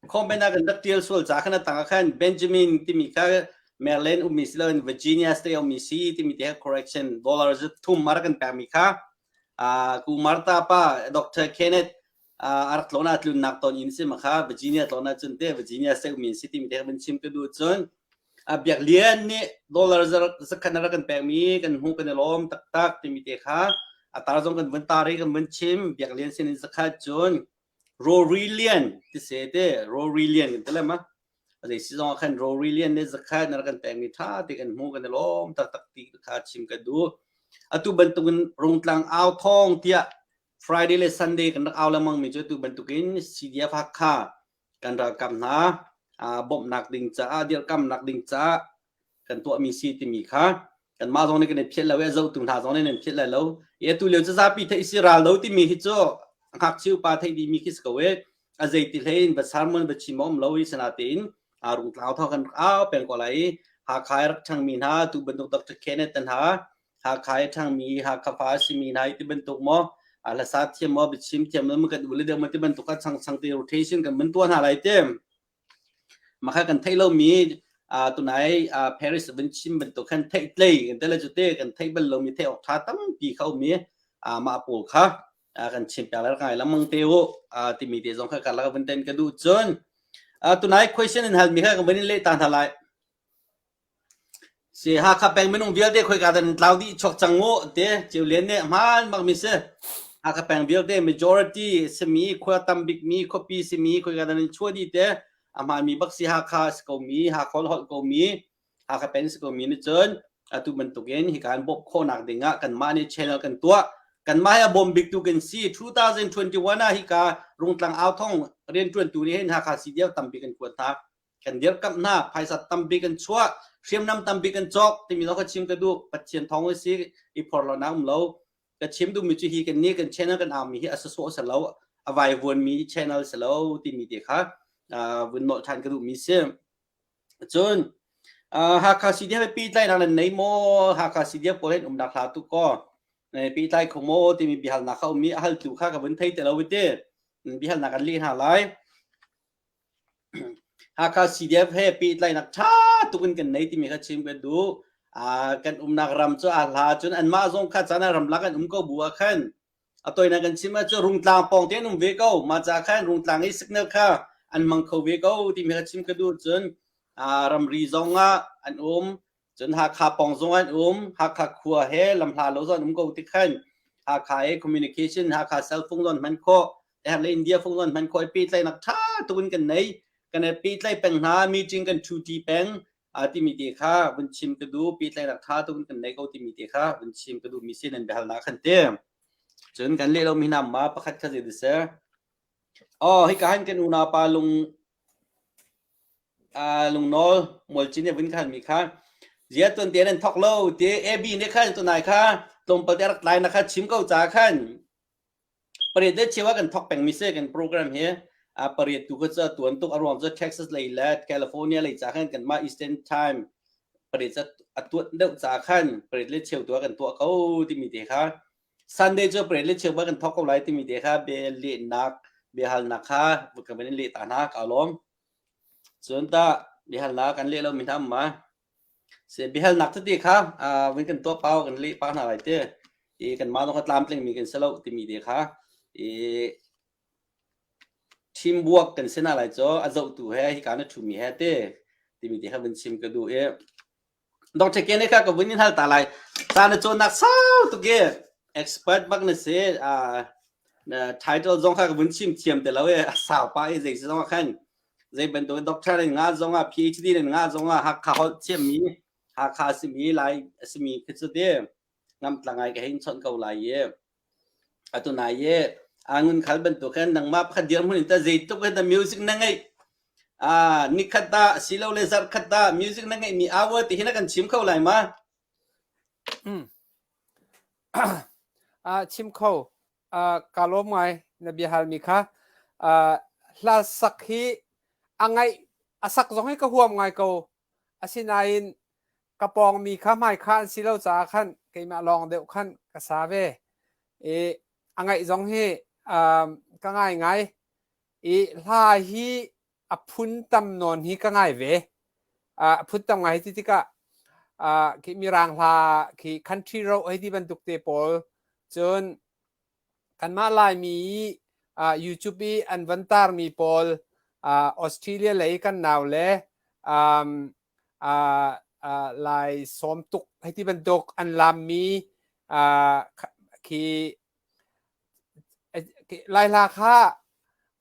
Khawmben ah kan rak tial sual ca khan a tang ah khan Benjamin timi kha Maryland ummi si loin Virginia State ummi si timi te correction dollar thum mar kan pekmi kha uh, ku Martha pa Dr. Kenneth uh, arak tlona tlunnak ton in si ma kha Virginia tlona cun te Virginia State ummi si timi te kan chim ka du cun a biak lian nih dollar zakhan ara kan pekmi kan hmu kan i lom taktak timi te kha atar zong kan vun tari kan vun chim biak lian sin in zakhat cun Rawlrilian ti se te rawlrilian kan ti le ma a zei si zong ah khan rawlrilian ne zakhat na kan pekmi ṭha te kan hmu kan i lawm taktak ti kha chim kan duh atu bantukin rungtlang au thawng tiah Friday le Sunday kan rak au lengmangmi cu atu bantukin CDF Hakha kan ralkap hna bawmhnak ding caah dirkamnak ding caah kan tuahmi si timi kha kanmah zong nih kan i phiat lo i a zohtu hna zong nih nan phiat lai lo i atu lio zapi theih si ral lo timi hi cu ngakchia upa theih dimi khi si ko e a zeiti hlei in va sermon va chim om lo i sanatein a rung tlau thau kan au peng ko lai Hakha rak thangmi hna tu bantuk Dr. Kenneth hna Hakha thangmi Hakha fa simi hna ti bantuk mo ala sa thiam mo bichim thiam lo kan ule deuh ma ti bantuk ka chang chang ti rotation kan man tua hna lai tem Maka kan thei lomi tunai Paris vin chim bantuk khan theih tlei kan tele cu te kan theih bal lomi theih awk ṭha tampi khaumi mah pawl kha kan chim piak lar ngai lengmang te u timi te zong kha karlak vin ten ka duh cun tunai question in halmi kha kan van in leh ta hna lai. Si Hakha peng minung vialte khoika dah nan tlau dih chuak cang uh ti Ceu Lian nih hmaan bakmi a si. Hakha peng vialte majority simi, khua tam bikmi, khuapi simi khoika dah nan chuah dih ti a hmaanmi bak si Hakha a si komi, Hakha le holh komi, Hakha peng si komi nih cun atu bantukin hika kan bawmh khawhnak dingah kanmah nih channel kan tuah. Kanmah hi a bawm biktu kan si. 2021 ah hika Rungtlang Au Thong rianṭuantu nih hin Hakha CDF tampi kan kuat hna. kan dirkamh hna phaisa tampi kan chuah hriamnam tampi kan cawk timi lo ka chim ka duh pathian thawng a si i phor lo na um lo ka chim duhmi cu hi kan ni kan channel kan aumi hi asaso sa lo avai vuan mi channel sa lo timi te kha vun nol than ka duhmi si cun Hakha CD ha pi tlai nang nei mo Hakha CD ko len um dak hla tu ko pi tlai kho mo timi bihal na kha umi ahal tu kha ka vun thei te lo wite bihal na kan li ha lai Hakha CDF he pehtlainak ṭha tuk in kan nei timi kha chim kan duh. Uh, kan umnak ram cu a hla cun anmah zong kha caan ah ramlak an um ko bu ah khan a toinak kan chim ah cu rungtlang pawng te an um ve ko ma ca khan rungtlang i signal kha an mang kho ve ko timi kha chim ka duh cun uh, ramri zong ah an um Cun Hakha pawng zung an um. Hakha khua he lamhla lo zong an um ko tik khan Hakha i communication Hakha cell phung zon hman khawh har le India phung zon hman khawh pi tlai nak tha tukin kan nei kan pi tlai peng hna meeting kan chuti peng ti mi te kha vun chim ka du pi tlai rak tha tukin kan nei ko ti mi te kha vun chim ka du mi sin an behal na khan te cun kan le lo mi nam ma pakhat kha ze de se oh hi ka han kan unapa lung lungnawl mualcin nih a vun khanmi kha zia tuante nan thawk lo ti AB nih khan tunai kha tlawmpal te a rak tlai na kha chim ko ca khan pariat le cheu ah kan thawk pengmi si kan program hi pariat tu kha cu a tuan tuk a ruang cu Texas lei le California lei ca khan kan mah Eastern time pariat cu a tuat deuh ca khan pariat le cheu tu ah kan tuah ko timi te kha Sunday cu parade le chiangba kan thok ko lai timi te kha be lehnak biahalnak kha ka van in leh ta hna ka lawm cun ta biahalnak kan leh lo mi hna ma se biahalnak tete kha vin kan tuah pau kan leh pa hna lai te i kan ma ka tlam tling mi kan si lo timi te kha i team buak kan sina lai cho a zohtu he hi ka na thu mi he te timi te kha vin chim ka du e Dr. Ken kha ka vun in hal ta lai. Sa na cawnnak sau tuk i expert bak na se title zong kha ka vun chim thiam te lo e sau pa e zei zong khan zei bantuk doctor in nga zong ah PhD in nga zong ah hakha holh thiammi hakha simi lai asimi khi cu te namtla ngai ka hei chawnh ko lai i atu nai i angun khal bantuk khan nangmah pakhat dirhmun in ta zeitluk na music na ngeih a ni khat ta asilo le zarh khat ta music na ngeih mi hour ti hi na kan chim kho lai ma a chim kho ka lawm ngai na bia hal mi kha hla sak hi a ngaih a sak zong hi ka huam ngai ko Asinain ka pawngmi kha hmaikha an si lo caah khan keimah lawng deuh khan ka sa ve. I a ngaih zong hi um, ka ngaingai. I hla hi a phun tam nawn hi ka ngai ve. Uh, a phun tam ngai hi ti tikah uh, khi Mirang hla khi country ro hei ti bantuk te pawl cun Kanmah Laimi i ah YouTube i an van taarmi pawl ah Australia lei kan nau le um, ah ah lai sawm tuk hei ti bantuk an laammi ah kha- khi eh, khi lai hla kha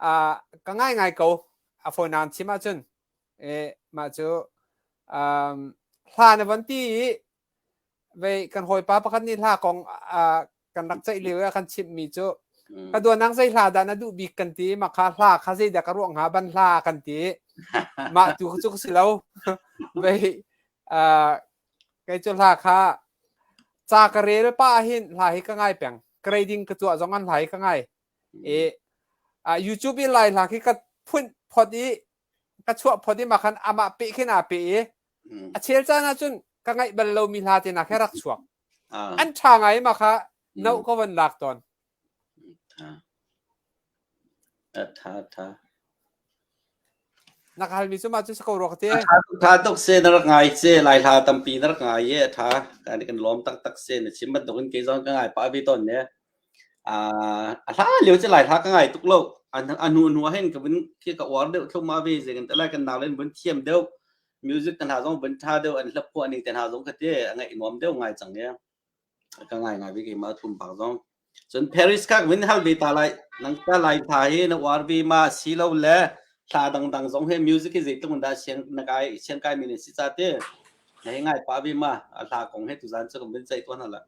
ah ka ngaingai ko a fawinan chim ahcun eh, mah cu um, hla na van ti i vei kan hawipa pakhat nih hla kong ah kan rak ceih lio ah kan chimhmi cu ka duanang zei hla dah na duh bik kan ti mah kha hla kha zei dah ka ruah hnga ban hla kan ti mah tu cu ka si lo vei uh, kei cu hla kha ca ka rel pa hin hla hi ka ngai peng grading ka tuah zong an hla hi ka ngai i uh, YouTube i lai hla khi ka phun phot i ka chuah phot i makhan amah peh khin aa peh i a chel caan ah cun ka ngaih bal lomi hla te nak he rak chuak an ṭha ngai ma kha no ka van lak tawn Tha tha. Na hal mi cu ma cu sa ko ruak te. Tha tok se na rak ngai se lai hla tampi na rak ngai ye tha kan kan lom tak tak se na chim ban tok in ke zon ka ngai pa vi ton ne. a hla leo che lai hla ka ngai tuk lo a nu nu hen ka bin khi ka uar deuh thloma ve ze kan lai kan nau len bun thiam deuh music kan hla zong bun tha deuh an hlap phuah ni te hna zong ka te a ngai nuam deuh ngai chang ya ka ngai ngai ve ke ma thum pak zong cun Paris kak min hal ve ta lai nang ta lai tha hi na uar ve ma si lo le hla dang dang zong he music hi zeitlung da siang na kai siang kai min si cha te ngai pa ve ma a hla kong he tu zan chu kan bin chai to na la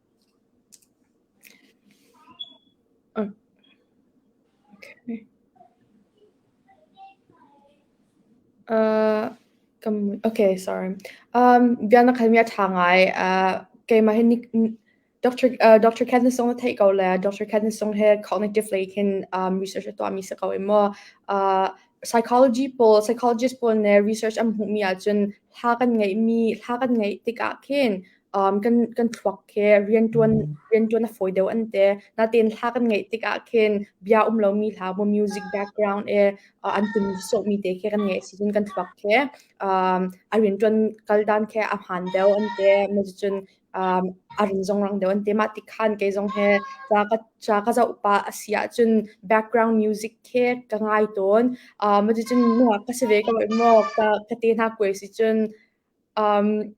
Bia na hal mi a ṭha ngai. Keimah hi Dr. Katniss zong na theih ko le Dr. Katniss zong hi cognitive lei khin research a tuah mi si ko i maw. Psychologist pawl nih research an hmuh mi ahcun thla kan ngeih mi, thla kan ngeih tikah khin um, kan kan thluak he riantuan mm. riantuan a foi deuh an te natin hla kan ngeih tikah khin bia um lo mi hla mo music background e uh, an tum so mi te ke kan nge sizun kan thluak ke um, a riantuan kal dan ke a han deu an te ma cun um, arin zong rang deu an te ma tikhan ke zong he cha ka cha ka zau pa asia chun background music ke ka ngai ton uh, ma cun mo ka se ve ka mo ka ka te na kwe si chun um,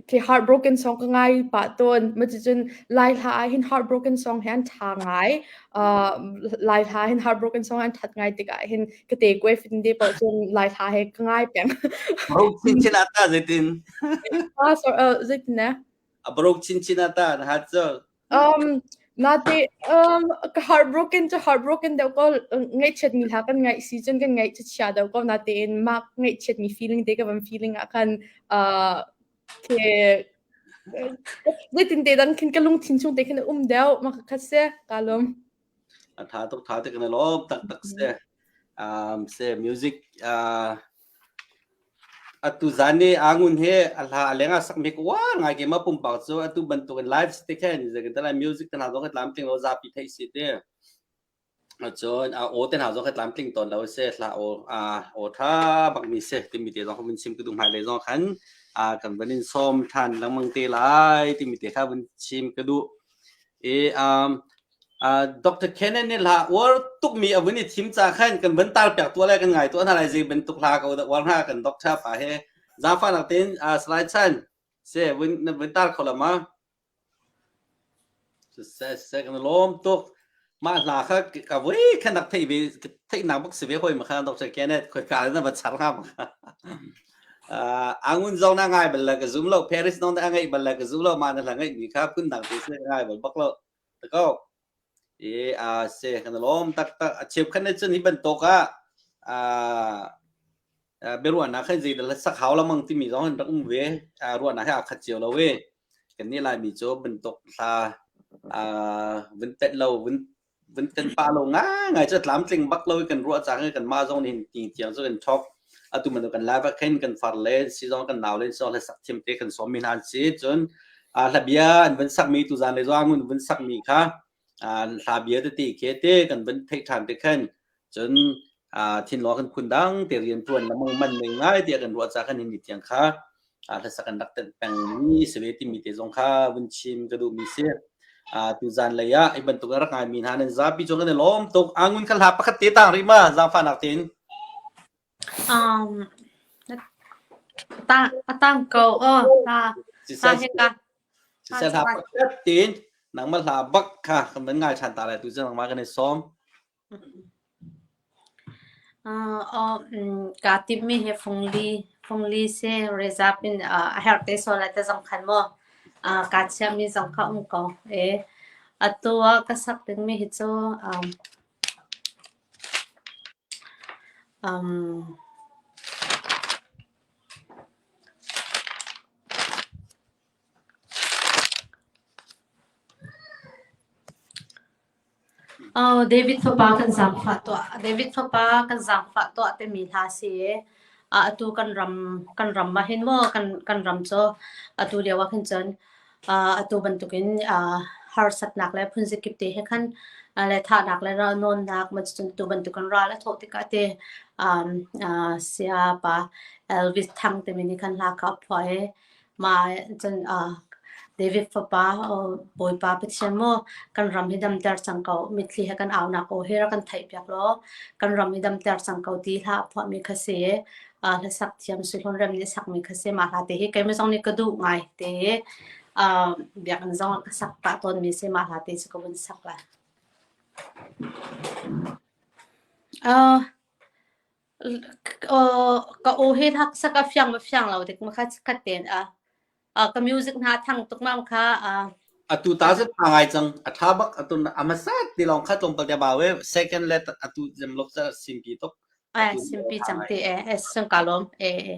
khi heartbroken song ka ngai pa ton ma chi chun lai hla ah hin heartbroken song hian tha ngai uh, lai hla hin heartbroken song an that ngai tik ah hin ka te kwe fin de pa chun lai hla he ka ngai peng Bro chin chin ata zetin ah so uh, zetin ne a bro chin chin ata ha cho Um, nate, um, ka heartbroken to heartbroken deuh ko ngaihchiatmi hla kan ngaih si cun kan ngaihchia deuh ko natein mah ngaihchiatmi feeling te ka van feeling ah khan uh, ke zeitinte dang khin ka lungthin chung te khin um deuh ma kha se ka lum a tha tuk tha tuk in a lawm taktak si um, si music uh, atu zan ni angun he a hla alenga sakmi ko wa ngai ke ma pumpak chu atu bantuk in live stick hen zakin tala music tan ha zo ka tlam tling lo za pi thei si te chon a o ten ha zo ka tlam tling ton lo se hla o a o tha bak mi se ti mi te zo min sim ku du mai le zo khan a kan banin som than langmang te lai ti mi te kha bun sim ku du e um Dr. Kenneth nih hla uar tukmi a vun i thim ca khan kan van tar piak tuah le kan ngai tuah hna lai zei bantuk hla ko dah uar hna kan doctor pa he zafa nak tein salai chan se vun vun tar kho la ma se kan lom tuk mah hla kha ka voi khan nak thei ve thei nak bak si ve hoi ma kha Dr. Kenneth khoi ka na va char ha ma kha angun zong na ngai bal la ka zum lo Paris non da ngai bal la ka zum lo ma na la ngai mi kha kun dang te se ngai bal bak lo ta ko i a si kan lawm taktak a cheukhat ne cun hi bantuk ah a biaruahnak khan zeidah sak hau lamang timi zong an rak um ve ruahnak he aa khat cio lo i kan nih laimi cu bantuk thla vun tet lo vun vun kan pah lo ngai ngai cu tlamtling bak lo i kan ruah cang i kan mah zong nih tiang cu kan thok atu man kan lai va khin kan far le si zong kan nau le so le sak thiam te kan som mi nan si chun a la bia an van sak mi tu zan le zong un van sak mi kha hla bia te ti ke te kan van thei than te khan chun thin lo kan khun dang te rian tuan lamang man ning ngai ti kan ruwa cha kan ni tiang kha ah hlasak an rak ṭanh pengmi si ve timi te zong kha vun chim ka duhmi si. Uh, tuzan lei ah hi bantuk a rak ngaimi hna nan zapi cung kan i lawm tuk angun kan hla pakhat te tang rima zaangfahnak tein um ta atang ko o ta ta he ka sisel ha pakhat tein nangma hla bak kha kan man ngai ṭhan ta lai tu zang ma kan i sawm Kaa timmi hi fungli si rezap in a herh te sual lai ti zong khan maw kaa chiahmi zong kha um ko. Atu ah ka sak dingmi hi cu David fapa kan zaangfah tuah, David fapa kan zaangfah tuah timi hla a si i atu kan ram, kan ram ahhin maw kan ram cu atu lio ahhin cun atu bantukin harsatnak le phunzakip te he khan le thahnak le nawlnak cun atu bantukin ral a thawh tikah ti siapa Elvis Thang timi nih khan hla kha a phuah i Mah cun David fapa Bawipa Pathian maw kan ram hi damter cang ko mitthli he kan aunak aw hi rak kan theihpiak law kan ram hi damter cang ko ti hla a phuahmi kha si hla sak thiam sulhun rem nih sakmi kha si mah hla te hi keimah zong nih ka duh ngai te i biakinn zong ka sak pah tawnmi si mah hla te cu ka vun sak lai. uh, ka u hi thak saka fiang ma fiang lo tik ma kha khat ten a uh, ka music na thang tuk ma kha uh, atu ta zet ma ngai chang atha bak atu amasa ti long kha tlom pal te ba we second let atu jem lok cha simpi tok ai simpi chang te e es sun kalom e e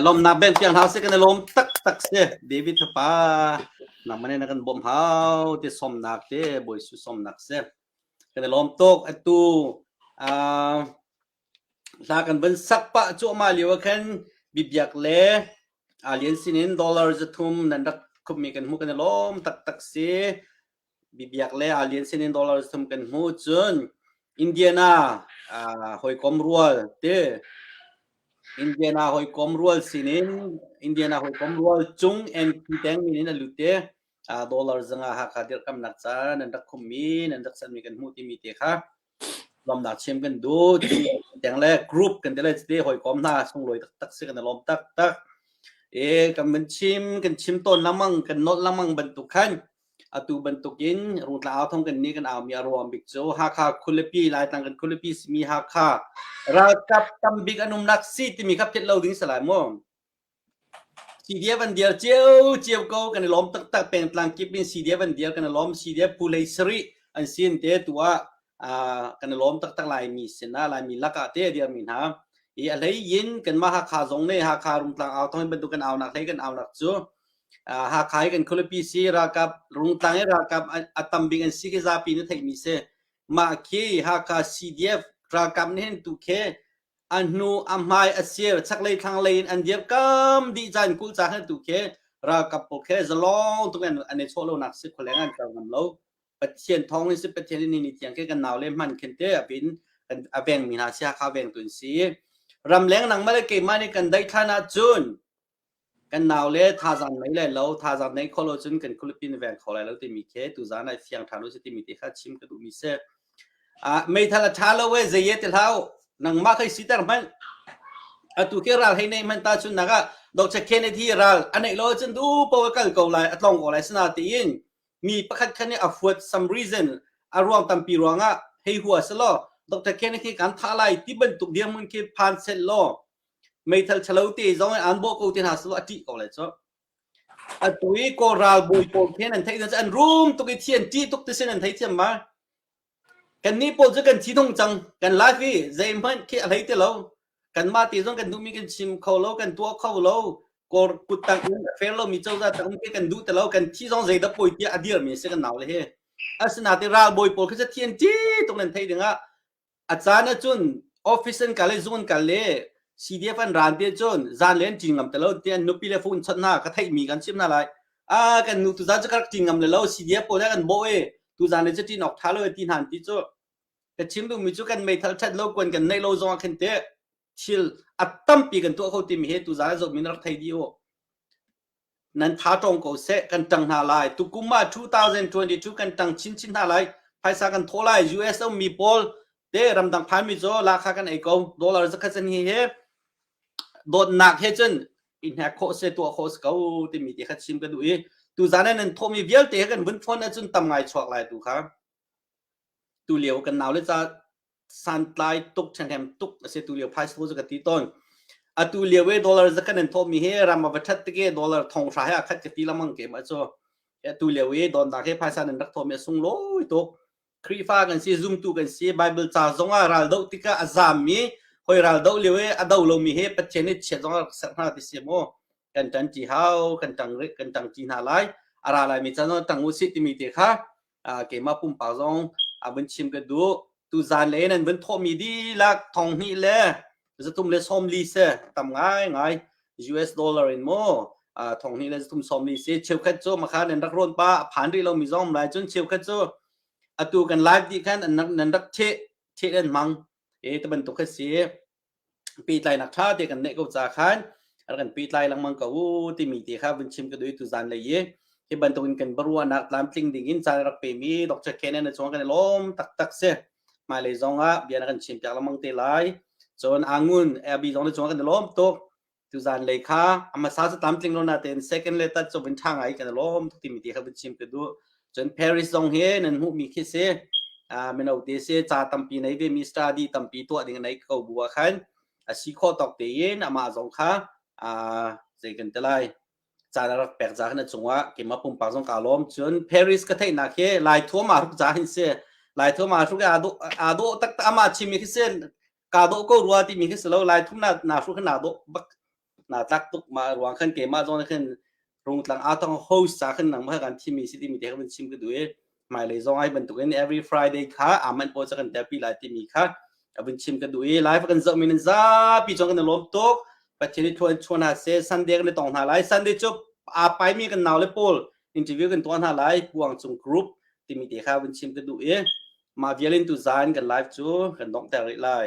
Lawmnak bank piak hna sih kan i lawm taktak si David fapa nangmah nih na kan bawmh hau ti somnak ti bawisu somnak si kan i lawm tuk atu hla kan van sak pa cu ama lio ah khan bibiak le alian sinin dollar zathum nan rak khupmi kan hmu kan i lawm taktak si bibiak le a lian sin in dollar sum kan hmu cun Indiana hawikom rual te Indiana hawikom rual sinin Indiana hawikom rual cung NP teng in a lut te dollar zanga hakha dirkamnak caan an rak khummi nan rak sanmi kan hmu timi te kha lawmnak chiam kan duh tiang le group kan ti le ti hawikom hna sunglawi taktak si kan i lawm taktak i kan min chim kan chim tawn lengmang kan nolh lengmang bantuk khan atu bantukin rungtlang au thong kan ni kan aumi a ruam bik cu Hakha khulipi Laitlang kan khulipi simi Hakha ralkap tambik an umnak si timi kha phet lo ding salai mu CDF an dial ciocio ko kan i lawm taktak pengtlang kip in CDF an dial kan i lawm CDF pulei sarih an sin te tu ah kan i lawm taktak laimi sinah laimi lakah te a dirmi hna i a hlei in kanmah Hakha zong nih Hakha Rungtlang au thawng bantuk kan aunak hlei kan aunak cu Hakha i kan khualipi si ralkap Rungtlang i ralkap a tam bik an si khi zapi na theihmi si mah khi Hakha CDF ralkap nih hin tu khi a hnu a hmai a sir chaklei thlanglei in an dir kam dih caan kul ca khan tu khi ralkap pawl khi zalong tuk an an i chawh lo nak si khualeng an kal ngam lo pathian thawng ni si pathian ni ni tiang khi kan nau le hman khin te abin kan a veng mi hna si hakha veng tun si ram leng nang mah le keimah nih kan dai than ahcun kan nau le thazaang nei lai lo thazaang nei kho lo cun kan khualipi na veng kho lai lo timi khi tuzaan ai fiang ṭhan u si timi te kha chim ka duhmi si uh, meithal a ṭha lo e zeiye ti hlau nangmah kai siter hmanh atu khi ral hei nei hmanh ta cun naga Dr. Kennedy ral anei lo cun du po kal ko lai atlong ko lai sina tiin mi pakhat khan ni afuat some reason aruang tampi ruangah hei hua selo Dr. Kennedy kan tha lai ti bantuk diam mun khi phan set lo meithal ṭhalo te zong in aan bawh ko te hna selaw a ṭih ko lai cu. Atu i Kawl ralbawi pawl khi an theih cu an rum tuk i thi an ṭih tuk tisin an thei thiam mai. Kannih pawl cu kan thi tung cang. Kan life hi zeihmanh khi a hlei ti lo. Kanmah te zong kan duhmi kan chim kho lo, kan tuah kho lo. Kawl kut tang in a fair lomi cozah tang um khi kan duh ti lo. Kan thi zong zeidah poi tiah a dirmi a si kan naule hi. Asinain ralbawi pawl khi cu thi an ṭih tuk nan theih dingah a caan ah cun office an kal i zung an kal i CDF an ran te cun zan len cin ngam te lo tiah nupi le fun chawt hna ka theihmi kan sim hna lai a kan nu tuzan cu ka rak cin ngam le lo CDF pawl nih kan bawh i tuzan le cu cin awk tha lo ti hnan ti cu ka chim duhmi cu kan meithal that lo kuan kan neih lo zong ah khin teh thil a tampi kan tuah kho timi hi tuzaan a zohmi na rak thei dih u nan tha tawng ko seh kan tang hna lai tukum ah 2022 kan tang chinchin hna lai phaisa kan thaw lai US mi pawl te ramdang phanmi zo lakha kan ei ko dollar zakhat sen hi he dotnak he cun i hnek kho se tuah kho se ko timi ti khat sim ka duh i tu zane nan thomi vialte he kan vun phone ahcun tam ngai chuak lai tu kha Tulio kan nau le ca santlai tuk ṭhenghem tuk a si tulio phai school cu ka ti tawn. Atu lio e dollar za kan in thawhmi hi ram a va ṭhat tik e dollar thong hra he a khat ka ti lamang ke ma cu. Atu lio e donda ke phaisa nan rak thawhmi a sunglawi tuk. Khrihfa kan si, zumtu kan si, Bible ca zong ah ral doh tikah a zammi hoi ral doh lio e a do lomi he Pathian i chiat zong a rak ser hna ti si mu. Kan ṭan ṭi hau, kan ṭang kan ṭang ṭi hna lai. A ra laimi ca zong ṭang u si timi te kha keimah pumpak zong a vun chim ka duh tu zan le nan vun thawhmi dihlak thong hnih le zatum le somli se tam ngai ngai US dollar in mo thong hnih le zatum somli se cheukhat cu makha nan rak rawn pa phan rih lo mi zong lai cun cheukhat cu atu kan live ti khan an rak nan rak the the an mang e te bantuk kha si peitlainak ṭha te kan neih ko caah khan rak kan pehtlai lengmang ko uh timi te kha vun chim ka duai tuzan lei i hi bantukin kan baruahnak tlamtling dingin caan rak pemi Dr. Kenneth chung kan lawm taktak si hmailei zongah bia na kan chim piak lengmang te lai cun angun abi zong na chung kan lawm tuk tu zan le kha ama sa sa tam tling lo na ten second le ta chobin thang ai kan lom tu mi ti kha bu chim ke du chon paris zong he nan mu mi khi se a men autte se cha tampi nei ve mi study tampi to ding nei ko buwa khan a si kho tok te yin ama zong kha a zei kan telai cha na rak pek za na chunga ke ma pum pak zong ka lom chun paris ka thei na ke lai thua ma ruk za hin se lai thua ma ruk adu adu tak ta ama chimi khi se ka do ko rua ti mi khi silo lai thum na na hru khan na do bak na tak tuk ma ruang khan ke ma zon khan rung tlang atang host sa khan nang ma kan thi mi si ti mi te khan chim ke du e mai lei zong ai ban tu in every friday kha aman po cha kan therapy lai ti mi kha abin chim ke du e live kan zo min za pi chong kan lom tok pathian ni thuan chuan ha se sunday kan tong na lai sunday chu a pai mi kan naw le pol interview kan tuan ha lai puang chung group ti mi te kha abin chim ke du e Mah vial in tuzaan kan live cu kan donghter rih lai.